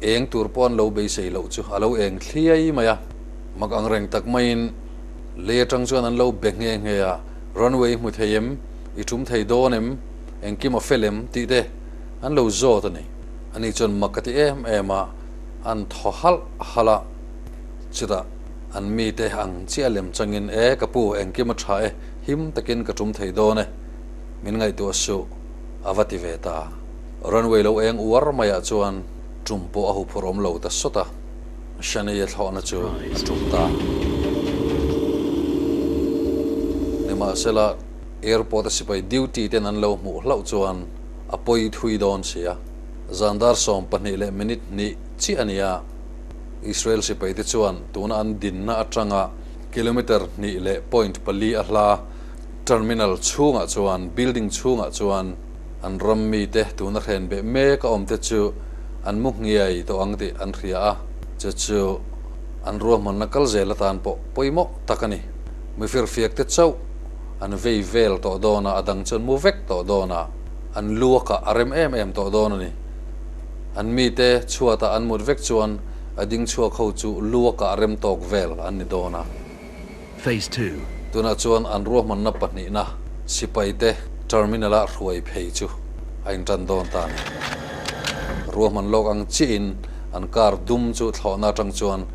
eng tur pawh an lo beisei loh chu a lo eng thliai mai a. Mak ang reng tak maiin Lei atang chuan an lo be nghe nghe a, Runway hmu thei em? I ṭum thei dawn em? Engkim a fel em? tih te an lo zawt a ni. Ani chuan mak a ti em em a, an thaw halh halh a. Chutah an mite ang chiah lem changin, E ka pu, engkim a ṭha e, him takin ka ṭum thei dawn e, min ngaihtuah suh. a va ti ve ta. Runway lo eng uar maiah chuan tum pawh a hu phur awm lo ta sawt a, Shania thlawhna chu a tum ta. Nimahsela, airport a sipai duty ten an lo hmuh hlauh chuan a pawi thui dawn sia. Zandar sawm pahnih leh minute hni chiah a ni a, Israel sipai te chuan tuna an dinna atanga kilometre hnih leh point pali a hla. Terminal chhungah chuan building chhungah chuan an ram mite tuna hren beh mek a awmte chu an mu hniai tawh ang tih an hria a, chu chu an ruahmanna kal zel atan pawh pawimawh tak a ni. Mifirfiakte chauh an vei vel tawh dawn a, a dang chuan mu vek tawh dawn a, an luakah a rem em em tawh dawn a ni. An mite chhuatah an mut vek chuan a ding chhuak ho chu luakah rem tawk vel an ni dawn a. Phase Two. Tunah chuan an ruahmanna pahnihna sipaite terminal ah hruai phei chu a intan dawn ta nen ruahman lawk ang chiahin an car dum chu thlawhna atang chuan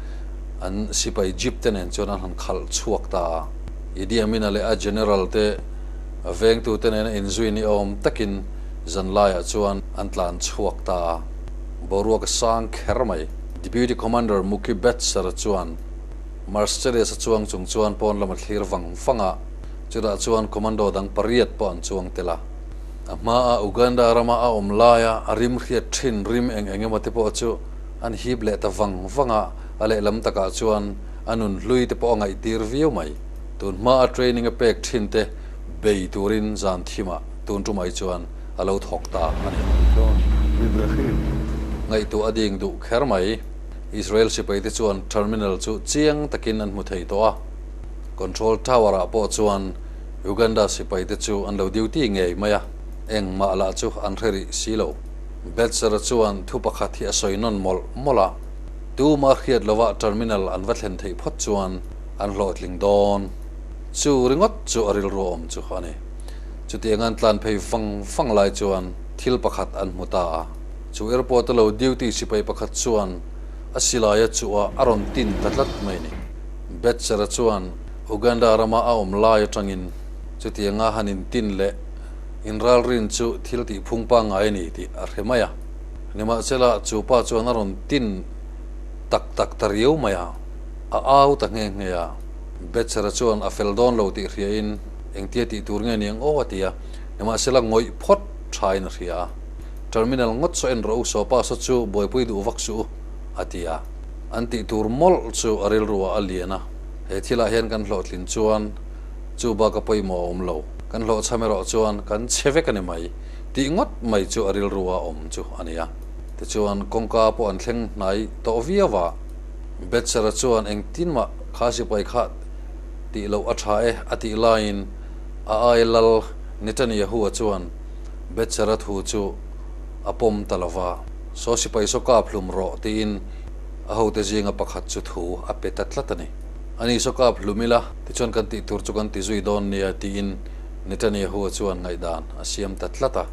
an sipai jeep te nen chuan an han khalh chhuak ta a. Idi Amina leh a General te a vengtute nena inzui ni awm takin zanlaiah chuan an tlan chhuak ta a, boruak a sang kher mai. Deputy Commander Muki Betser chuan. Marcellus a chuang chung chuan pawn lam a thlir vang vang a, chutah chuan commando dang pariat pawh an chuang tel a. A hmaa Uganda rama a awm laia a rim hriat thin rim eng eng emaw te pawh chu an hip leh ta vang vang a, a lehlam takah chuan a nun hlui te pawh a ngaihtir viau mai. Tun hmaa training a pek thin te bei turin zan thim ah tun ṭum ai chuan a lo thawk ta a ni. Ngaihtuah a ding duh kher mai. Israel sipaite chuan terminal chu chiang takin an hmu thei tawh a, control tower ah pawh chuan Uganda sipaite chu an lo duty ngei mai a, engmah lah chu an hre rih si lo. Betzera chuan thu pakhat hi a sawi nawn mawlh mawlh a, tumah hriat lovah terminal an va thlen theih phawt chuan an hlawhtling dawn. Chu ringawt chu a rilru awm chu a ni. Chutianga an tlan phei vang vang lai chuan thil pakhat an hmu ta a, Chu airport a lo duty sipai pakhat chuan a silaia chuah a rawn tin ta tlat mai ni. Betser-a chuan Uganda rama a awm lai atangin chutianga han in tin leh in ralrin chu thil tih phung pangai a ni tih a hre mai a. Nimahsela chu pa chuan a rawn tin tak tak ta riau mai a, a au ta nghe nghe a. Betser-a chuan a fel dawn lo tih hria in engtia tih tur nge ni ang aw a ti a, nimahsela ngawih phawt thain a hria a. terminal ngawt saw en rawh u, sofa saw chu buaipui duh vak suh u, a ti a. An tih tur mawlh chu a rilruah a lian a, he thilah hian kan hlawhtlin chuan chu baka pawimawh a awm lo, kan hlawhchham erawh chuan kan chhe vek a ni mai tih ngawt mai chu a rilru a awm chu a ni a. Tichuan kawngka pawh an thleng hnai tawh viau a, Betsera chuan engtin mah kha sipai kha tih loh a tha e, a tih laiin a ailal Netaniahua chuan, Betsera thu chu a pawm ta lova, saw sipai saw kap hlum rawh tiin a hote zinga pakhat chu thu a pe ta tlat a ni. A ni saw kap hlum ila, tichuan kan tih tur chu kan ti zui dawn nia tiin Netanyahu-a chuan ngaihdan a siam ta tlat a,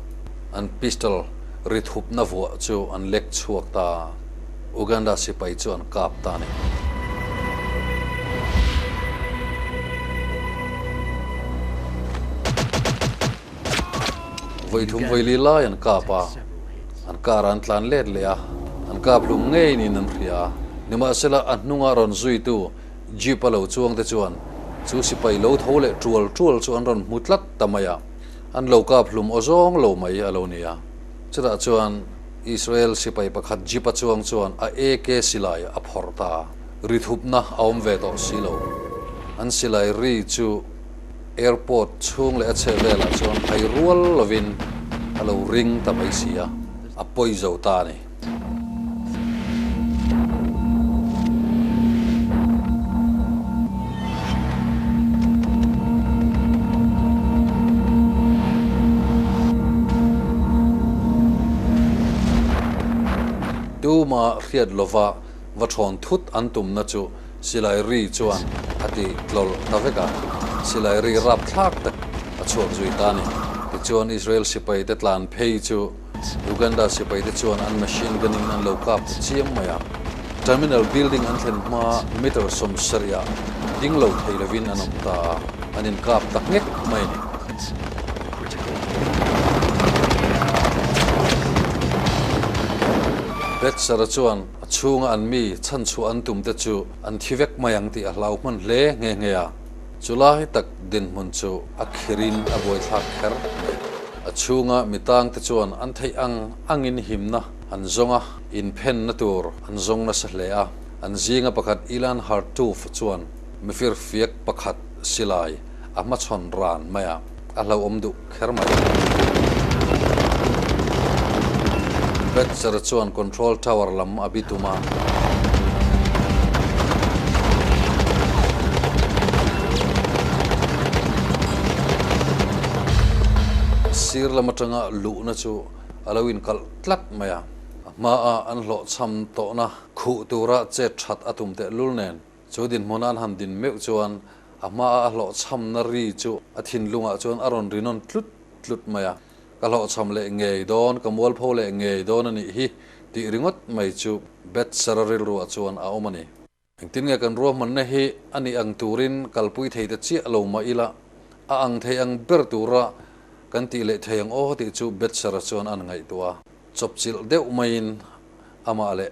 an pistol ri thupna vuah chu an lek chhuak ta a, Uganda sipai chu an kap ta a ni. Vawithum vawili lai an kap a, an kara an tlan let leh a, an kap hlum ngei niin an hria a. Nimahsela, a hnunga rawn zuitu Jeep-a lo chuangte chuan chu sipai lo tho leh ṭual ṭual chu an rawn hmu tlat ta mai a, an lo kap hlum aw zawng lo mai a lo ni a. Chutah chuan Israel sipai pakhat Jeep-a chuang chuan a AK silai a phawrh ta a, ri thupna a awm ve tawh si lo. An silai ri chu. Airport chhung leh a chheh velah chuan phai rual lovin a lo ring ta mai si a, a pawi zo ta a ni. Tumah hriat lova. va ṭhawn thut an tumna chu Silai Ri chuan a ti tlawlh ta vek a, Silai Ri rap thlak tak a chhuak zui ta a ni. Tichuan Israel sipai te tlan phei chu Uganda sipai te chuan an machine gun in an lo kap ta chiam mai a, terminal building an thlen hma meter sawm sarih ah ding lo thei lovin an awm ta a, an inkap ta nghek mai a ni. Betsara chuan a chhunga an mi chhanchhuah an tumte chu an thi vek mai ang tih a hlau hman hle nghe nghe a. Chulai tak dinhmun chu a khir in a buaithlak kher mai. A chhunga mi tang te chuan an theih ang ang in himna an zawng a, inphenna tur an zawng nasa hle a. An zinga pakhat Ilan Hartoof chuan mifir fiak pakhat silai a hmachhawn ran mai a. A hlauhawm duh kher mai a. Betser chuan control tower lam a bi tum a. Sir lam atanga luhna chu a lo inkalh tlat mai a. A hma ah an hlawhchham tawhna khuh tura chet that a tum tehlul nen. Chu dinhmun an han din meuh chuan a hmaa a hlawhchhamna ri chu a thinlungah chuan a rawn rinawn tlut tlut mai a, ka hlawhchham leh ngei dawn, ka mualpho leh ngei dawn a nih hi tih ringawt mai chu Betsara rilruah chuan a awm a ni. Engtin nge kan ruahmanna hi a nih ang turin kalpui thei ta chiah lo mah ila, a ang thei ang ber tura kan tih leh thei ang aw tih chu Betsara chuan an ngaihtuah a. Chawpchilh deuh maiin amah leh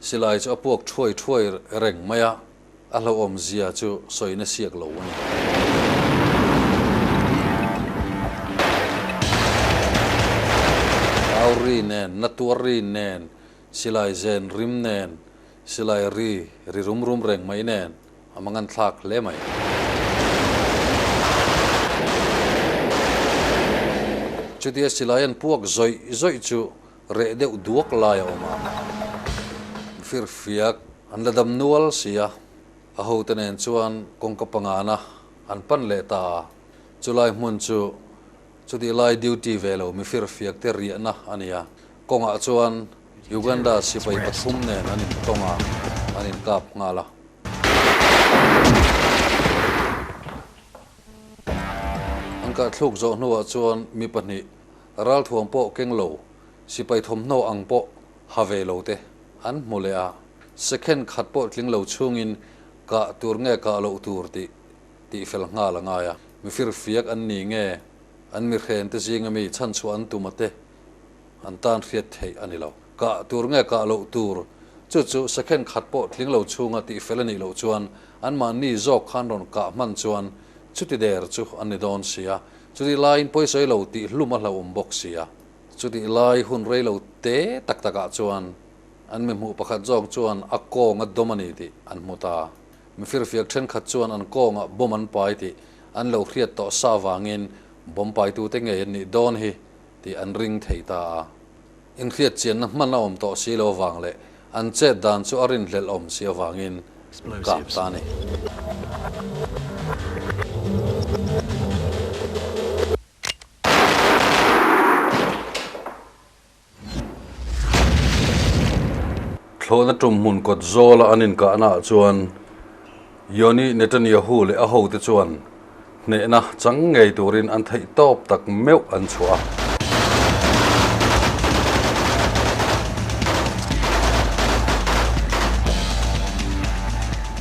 Silai chu a puak thuai thuai reng mai a, a hlauhawm zia chu sawi nasiak lo a ni. Tau ri nen, na tuar ri nen, silai zen rim nen, silai ri ri rum rum reng mai nen a mangan thlak hle mai. Chutia silai an puak zawih zawih chu Reh deuh duak lai a awm a, firfiak an la dam nual si a, a hote nen chuan kawngka pangana an pan leh ta a, chulai hmun chu chutih lai duty ve lo mi firfiak te riahna a ni a, kawngah chuan Uganda sipai pathum nen an in tawng a, an in kap nghal a. An kahthluk zawh hnuah chuan mi pahnih Ralthuam pawh keng lo, sipai thawmhnaw ang pawh ha ve lo te an hmu leh a, second khat pawh tling lo chhungin kah tur nge kah loh tur tih tih fel nghal a ngai a. Mi firfiak an nih nge an mihren te zinga mi chhanchhuah an tum ate an tan hriat theih a ni lo. Kah tur nge kah loh tur chu chu second khat pawh tling lo chhunga tih fel a nih loh chuan anmahni zawk khan rawn kah hman chuan chuti der chu an ni dawn sia. Chutih laiin pawisawi lo tih hlum a hlauhawm bawk sia. Chutih lai hun rei lo te tak takah chuan an mihmuh pakhat zawk chuan a kawng a dawm a ni tih an hmu ta. Mi firfiak thenkhat chuan an kawngah bomb an pai tih an lo hriat tawh sa vangin bomb paitute ngei an nih dawn hi tih an ring thei ta a. Inhliatchianna hman a awm tawh si lo vang leh an chet dan chu a rinhlelh awm si avangin an kap ta a ni. Thlawhna tum hmun kawt zawla an inkahnaah chuan Yoni Netanyahu leh a hote chuan Hnehna chang ngei turin an theih tawp tak meuh an chhuah a.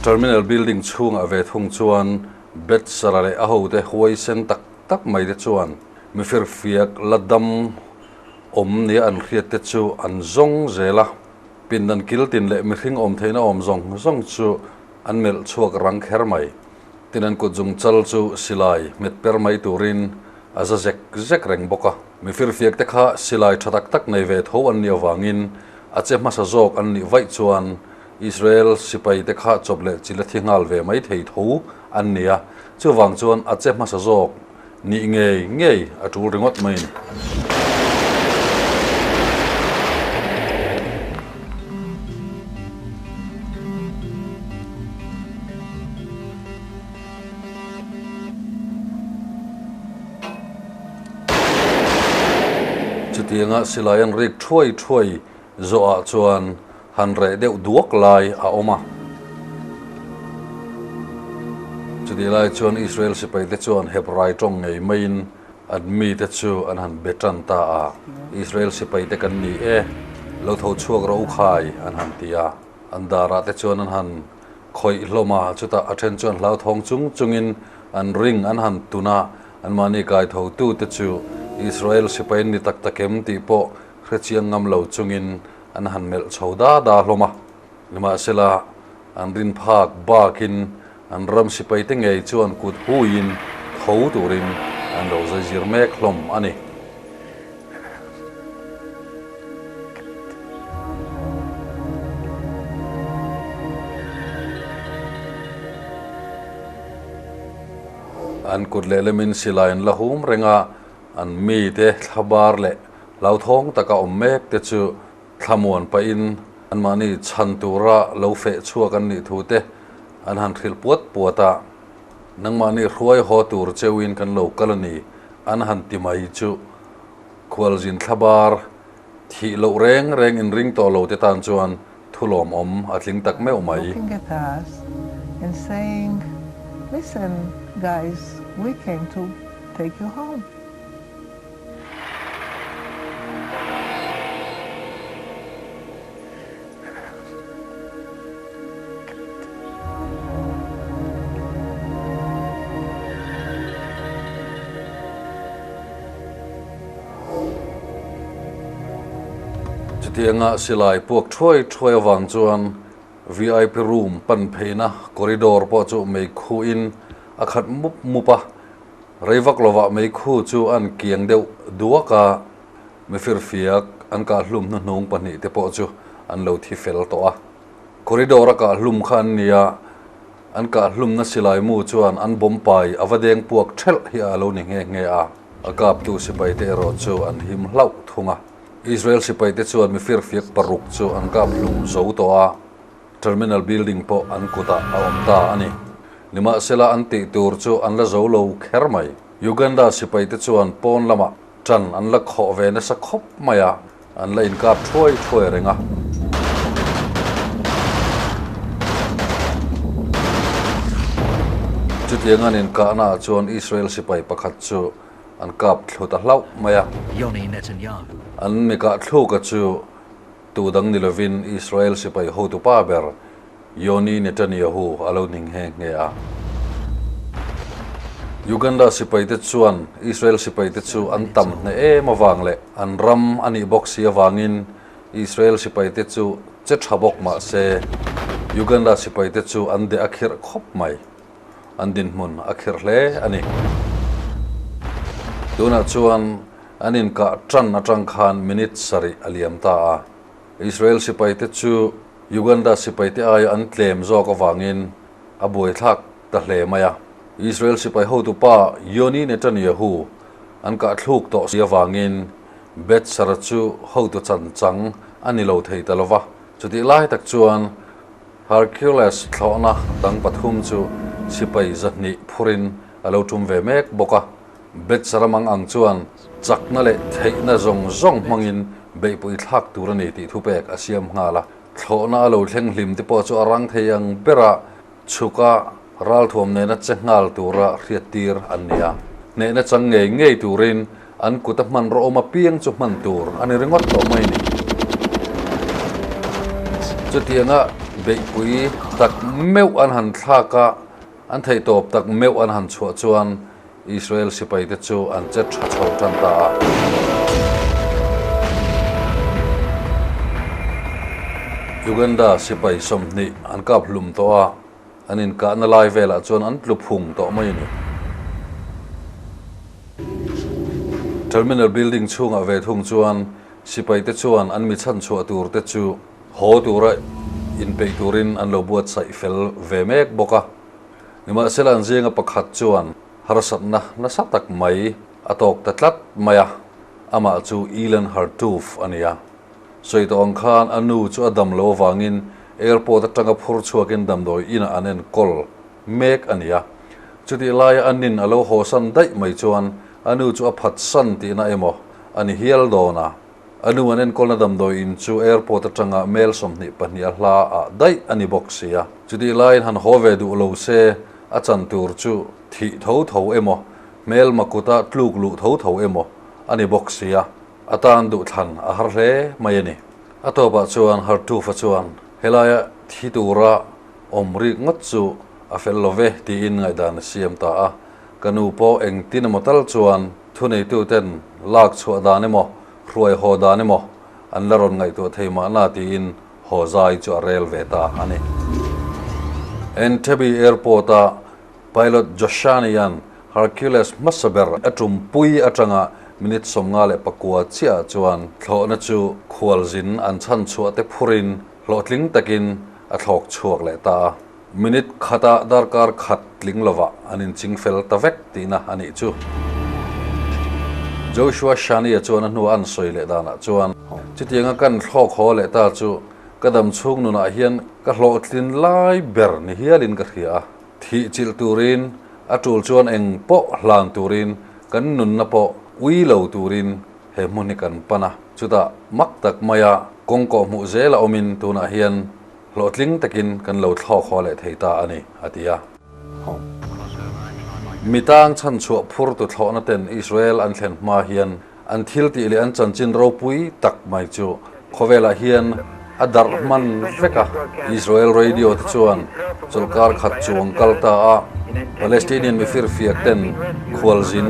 Terminal building chhungah ve thung chuan Betsara leh a hote huai sen tak tak mai te chuan mi firfiak la dam awm nia an hriat te chu an zawng zel a. Pindan kiltin leh mihring awm theihna awm zawng zawng chu an melh chhuak rang kher mai. Tin an kut zung chal chu silai nghet per mai turin a za zek zek reng bawk a. Mi firfiak te kha silai tha tak tak nei ve tho an ni avangin a che hmasa zawk an nih vaih chuan Israel sipai te kha chawp leh chilh a thi nghal ve mai thei tho an ni a. Chuvang chuan a che hmasa zawk. Nih ngei ngei a tul ringawt mai ni. Chutianga silai an rik thuai thuai. Zawhah chuan han reh deuh duak lai a awm a. Chutih lai chuan Israel sipaite chuan Hebrai tawng ngei maiin an mite chu an han be tan ta a, Israel sipaite kan ni e, lo tho chhuak ro u khai, an han ti a. An darah te chuan an han khawih hlawm a, chutah a then chuan hlauthawng chung chungin an ring an han tun a, anmahni kaithotute chu Israel sipai ni tak takem tih pawh Hrechiang ngam lo chungin an han melh chho da da hlawm a, nimahsela, an rinphak bakin an ram sipaite ngei chu an kut huiin tho turin an lo zaizir mek hlawm a ni. An kut lehlemin silaiin la hum renga an mite thla bar leh Hlauthawng taka awm mek te chu thlamuan pahin anmahni chhan tura lo feh chhuak an nih thu te an han hrilh puat puat a, nangmahni hruai haw tur cheuhin kan lo kal a ni an han ti mai chu. Khualzin thla bar thih loh reng reng in ring tawh lo te tan chuan Thulawm awm a tling tak meuh mai. Looking at us and saying listen guys we came to take you home. Chutianga silai puak thuai thuai avang chuan VIP room pan pheina corridor pawh chu meikhu in a khat mup mup a, rei vak lovah meikhu chu a an kiang deuh duak a, mi firfiak an kahhlum hnu hnung pahnih te pawh chu an lo thi fel tawh a, corridor a kahhlum kha an nia. An kah hlumna silai mu chuan an bawmpai a va deng puak ṭhelh hi a lo ni nghe nghe a, a kaptu sipaite erawh chu an him hlauh thung a. Israel sipaite chuan mi firfiak paruk chu an kap hlum zo tawh a, terminal building pawh an kutah a awm ta a ni. Nimahsela an tih tur chu an la zo lo kher mai. Uganda sipaite chuan pawn lamah ṭan an la khawh ve nasa khawp mai a. An la inkap thuai thuai a reng a. Chutiang an inkahna ah chuan Israel sipai pakhat chu an kap thlu ta hlauh mai a. An mikah thluk a chu tuh dang ni lovin Israel sipai hotupa ber, Yoni Netanyahu a lo hning nghe nghe a. Uganda sipaite chuan Israel sipaite chu an tam hneh em avang leh an ram a nih bawk si avangin Israel sipaite chu che tha bawk mah se, Uganda sipaite chu an deh a khirh khawp mai. An dinhmun a khirh hle a ni. Tunah chuan an inkah tan atang khan minute sarih a liam ta a. Israel sipaite chu Uganda sipaite aia an tlem zawk avangin a buaithlak ta hle mai a. Israel sipai hotu pa Yoni Netanyahu an kahthluk tawh si avangin Betzara chu hotu chancang a ni lo thei ta lo va. Chutih lai tak chuan Hercules thlawhna dang pathum chu sipai zahnih phurin a lo tum ve mek bawk a. Bets ramang ang chuan chakna leh theihna zawng zawng hmangin beihpawih thlak tur a ni tih thupek a siam nghal a. Thlawhna a lo thleng hlim te pawh chu a rang thei ang ber a, chhuka ralthuam nena che nghal tura hriattir an ni a. Hnehna chang ngei ngei turin an kuta hmanrauhawm apiang chu hman tur a ni ringawt tawh mai ni. Chutianga beihpui tak meuh an han thlak a, an theihtawp tak meuh an han chhuah chuan Israel sipaite chu an che tha chho tan ta a. Uganda sipai sawmhnih an kap hlum tawh a, an inkahna lai velah chuan an tlu phung tawh mai a ni. Terminal building chhungah ve thung chuan sipaite chuan an mi chhan chhuah tur te chu haw tura inpeih turin an lo buatsaih fel ve mek bawk a. Nimahsela an zinga pakhat chuan harsatna nasa tak mai a tawk ta tlat mai a, amah chu Ilan Hartoof a ni a. Sawi tawh ang khan a nu chu a dam lo avangin airport atanga phur chhuakin damdawi inah an en kawl mek a ni a. Chutih laia a nin a lo hawsan daih mai chuan a nu chu a phatsan tihna emaw a ni hial dawn a. A nu an enkawlna damdawi in chu airport atanga mail sawmhnih pahniha hla ah daih a ni bawk sia. Chutih laiin han haw ve duh lo se a chan tur chu thih tho tho emaw, hmelma kuta tluk luh tho tho emaw a ni bawk sia. A tan duh thlan a har hle mai a ni. A tawpah chuan Hartufa chuan helaia thi tura awm rik ngawt chu a fel lo ve tiin ngaihdan a siam ta a, ka nu pawh engtin emaw tal chuan, Thuneituten lak chhuah dan emaw, hruai haw dan emaw an la rawn ngaihtuah thei mahna tiin haw zai chu a rel ve ta a ni. Entebbe Airport-a Pilot Joshani hian Hercules hmasa ber a tum pui atanga minute sawm nga leh pakua chiahah chuan thlawhna chu khualzin an chhan chhuahte phurin hlawhtling takin a thlawk chhuak leh ta a. Minute khata darkar khat tling lovah an inching fel ta vek tihna a nih chu. Joshua Shania chuan a hnua a an sawi leh danah chuan, Chutianga ka in thlawk haw leh ta chu ka dam chhung nunah hian ka hlawhtlin lai ber ni hialin ka hria a. Thih chilh turin a tul chuan eng pawh hlan turin kan nunna pawh ui lo turin he hmun hi kan pan a. Chutah mak tak maia kawngkawh hmuh zel a awmin tunah hian Hlawhtling takin kan lo thlawk haw leh thei ta a ni, a ti a. Mi tang chhanchhuah phur tu thlawhna ten Israel an thlen hma hian an thiltih leh an chanchin ropui tak mai chu khawvelah hian a darh hman vek a. Israel radio te chuan chawlhkar khat chuang kal ta a Palestinian mi firfiak ten khualzin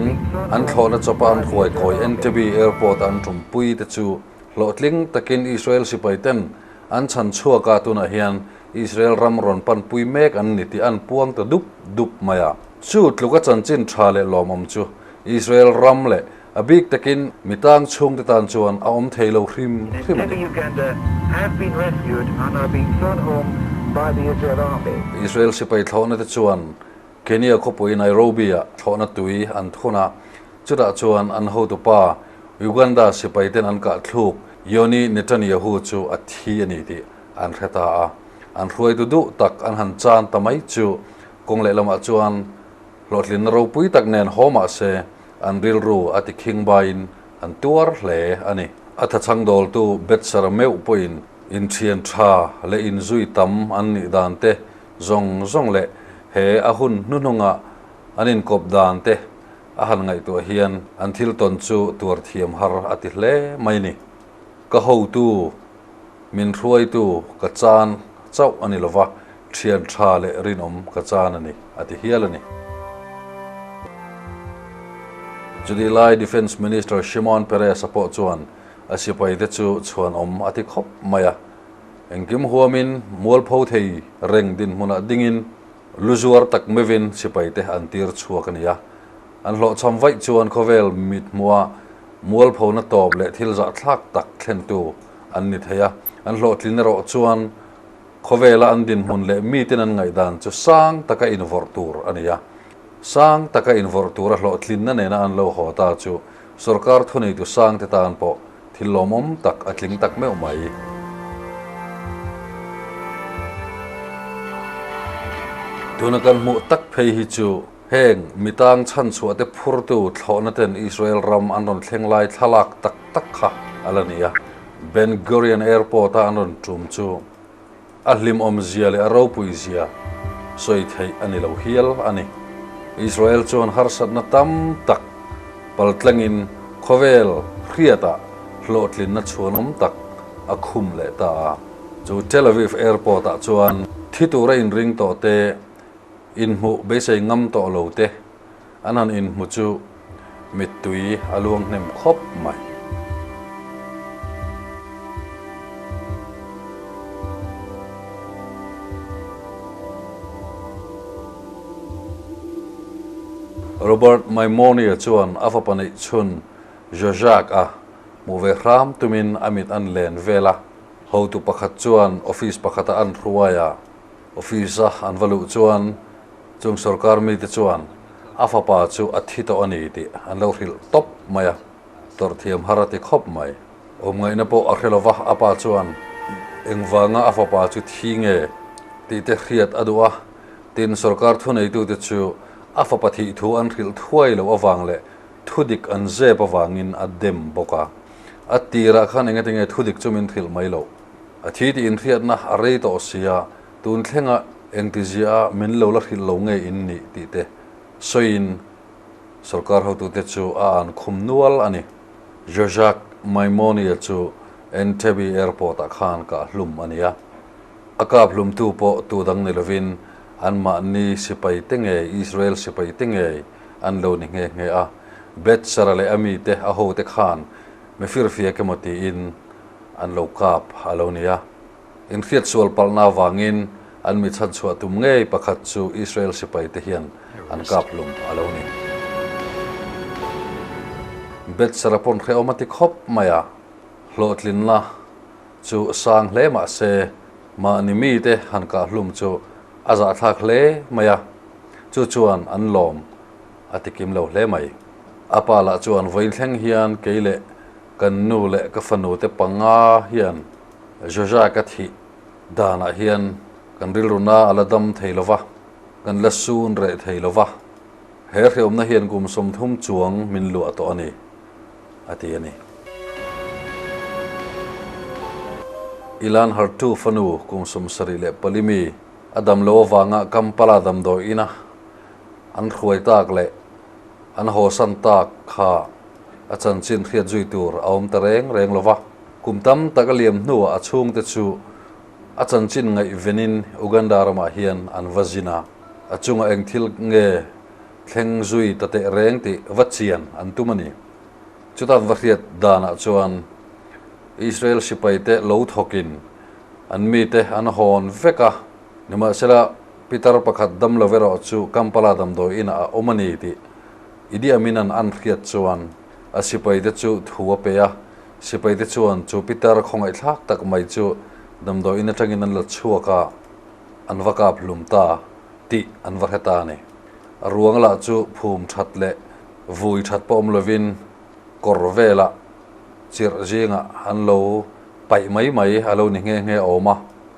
an thlawhna chawpa an hruai kawi Entebbe Airport-ah an tum pui te chu, Hlawhtling takin Israel sipaiten an chhan chhuaka tunah hian Israel ram rawn panpui mek an ni tih a an puang ta dup dup mai a. Chu tluka chanchin tha leh lawmawm chu Israel ram leh a bik takin mi tang chhungte tan chuan a awm thei lo hrim hrim a ni. Israel sipai thlawhnate chuan Kenya khawpui Nairobi-ah thlawhna tui an thun a. Chutah chuan an hotu pa Uganda sipaiten an kahthluk Yoni Netanyahu chu a thi a ni tih an hre ta a. An hruaitu duh tak an han chan ta mai chu kawng leh lamah chuan hlawhtlinna ropui tak nen haw mah se an rilru a tikhing baiin an tuar hle a ni. A thachhang dawltu Betsara meuh pawhin inthian tha leh inzui tam an nih dan te zawng zawng leh he a hun hnuhnungah an inkawp dan te A han ngaihtuah hian an thil tawn chu tuar thiam har a ti hle mai ni. Ka hotu, min hruaitu ka chan chauh a ni lo va, thian tha leh rinawm ka chan a ni, a ti hial a ni. Chutih lai Defence Minister Shimon Peres-a pawh chuan a sipaite chu chhuanawm a ti khawp mai a, engkim huamin mualpho thei reng dinhmunah dingin, Lu zuar tak mivin sipaite an tir chhuak a ni a, an hlawhchham vaih chuan khawvel mithmua mualphona tawp leh thil zahthlak tak thlentu an ni thei a, an hlawhtlin erawh chuan khawvela an dinhmun leh mitin an ngaihdan chu sang taka invorh tur a ni a. Sang taka invorh tura hlawhtlinna nena an lo haw ta chu sorkar thuneitu sangte tan pawh Thil lawmawm tak a tling tak meuh mai. Tuna kan hmuh tak phei hi chu heng mi tang chhanchhuah te phurtu thlawhna ten Israel ram an rawn thleng lai thlalak tak tak kha a la ni a. Ben Gurion Airport-a an rawn tum chu A hlimawm zia leh a ropui zia sawi theih a ni lo hial a ni. Israel chuan harsatna tam tak paltlengin khawvel hriatah hlawhtlinna chhuanawm tak a khum leh ta a. Chu Tel Aviv Airport ah chuan thi tura inring tawh te, inhmuh beisei ngam tawh lo te, An han in hmu chu mittui a luang hnem khawp mai. Robert Maimonia chuan a fa paneih chhun Zsuzsak a hmuh ve hram tumin a mit an len vel a, hotu pakhat chuan office pakhata an hruai a. Office a an va luh chuan chung sorkar mite chuan a fapa chu a thi tawh a ni tih an lo hrilh tawp mai a, tawrhthiam har a ti khawp mai. Awmngaihna pawh a hre lo va, a pa chuan engvanga a fapa chu thi nge tih te hriat a duh a, tin sorkar thuneitute chu a fapa thih thu an hrilh thuai loh avang leh thu dik an zep avangin a dem bawk a, a tirah khan engete nge thu dik chu min hrilh mai loh. A thi tih inhriatna a rei tawh sia, tun thlenga engtizia min lo la hrilh lo ngei in nih tih te sawiin sorkar hotute chu a an khum nual a ni. Zhezhak Maimonia chu Entebbe Airport-ah khan ka hlum a nia. A kaphlumtu pawh tudang ni lovin anmahni sipai te nge, Israel sipai te nge an lo ni nghe nghe a. Betzera leh a mite, a hote khan mi firfiak emaw tiin, An lo kap a lo ni a. Inhriat sual palhna avangin an mi chhanchhuah tum ngei pakhat chu Israel sipaite hian an kap hlum a lo ni. Betsara pawn hrehawm a ti khawp mai a. Hlawhtlinna chu a sang hle mah se, mahni mite han kah hlum chu a zahthlak hle mai a. Chu chuan an lawm a ti kim lo hle mai. A pa lah chuan vawi thleng hian kei leh Kan nu leh ka fanu te panga hian Joshua ka thih danah hian kan rilruna a la dam thei lova, kan la sun reh thei lova. He hreawmna hian kum sawmthum chuang min luah tawh a ni, a ti a ni. Ilan Hartu fanu kum sawm sarih leh pali mi a dam lo avanga Kampala damdawiina an hruai tak leh, an haw san tak kha a chanchin hriat zui tur a awm ta reng reng lo va. Kum tam tak a liam hnuah a chhungte chu a chanchin ngaihvenin Uganda ramah hian an va zin a, a chunga eng thil nge thleng zui ta teh reng tih va chian an tum a ni. Chutan va hriat danah chuan Israel sipaite lo thawkin an mite an hawn vek a, Nimahsela, Pitar pakhat dam love erawh chu Kampala damdawiin a awm a ni tih Idi Amin-a'n an hriat chuan a sipaite chu thu a pe a. Sipaite chuan chu Pitar khawngaihthlak tak mai chu damdawiin atangin an la chhuak a, an va kap hlum ta tih an va hre ta a ni. A ruang lah chu phum that leh vui that pawh awm lovin kawr vela chirh zingah an lo paih mai mai, a lo ni nghe nghe a awm a.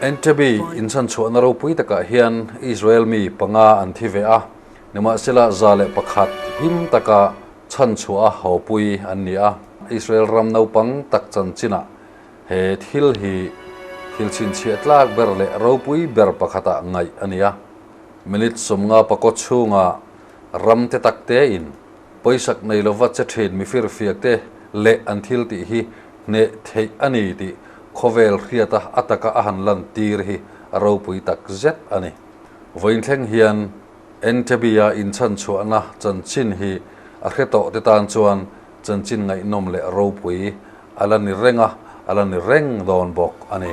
Entebbe inchhan chhuahna ropui takah hian Israel mi panga an thi ve a, nimahsela za leh pakhat him taka chhan chhuah a hawpui an ni a. Israel ram naupang tak chanchinah he thil hi thil chhinchhiah tlak ber leh ropui ber pakhata ngaih a ni a. Minute sawmnga pakawt chhunga ramte taktein pawisak nei lova che thin mifir fiakte leh an thil tih hi Hneh theih a ni tih khawvel hriata a taka a han lan tir hi a ropui tak zet a ni. Vawinthleng hian Entabia inchhanchhuahna chanchin hi a hre tawh te tan chuan chanchin ngaihnawm leh ropui a la ni reng a, a la ni reng dawn bawk a ni.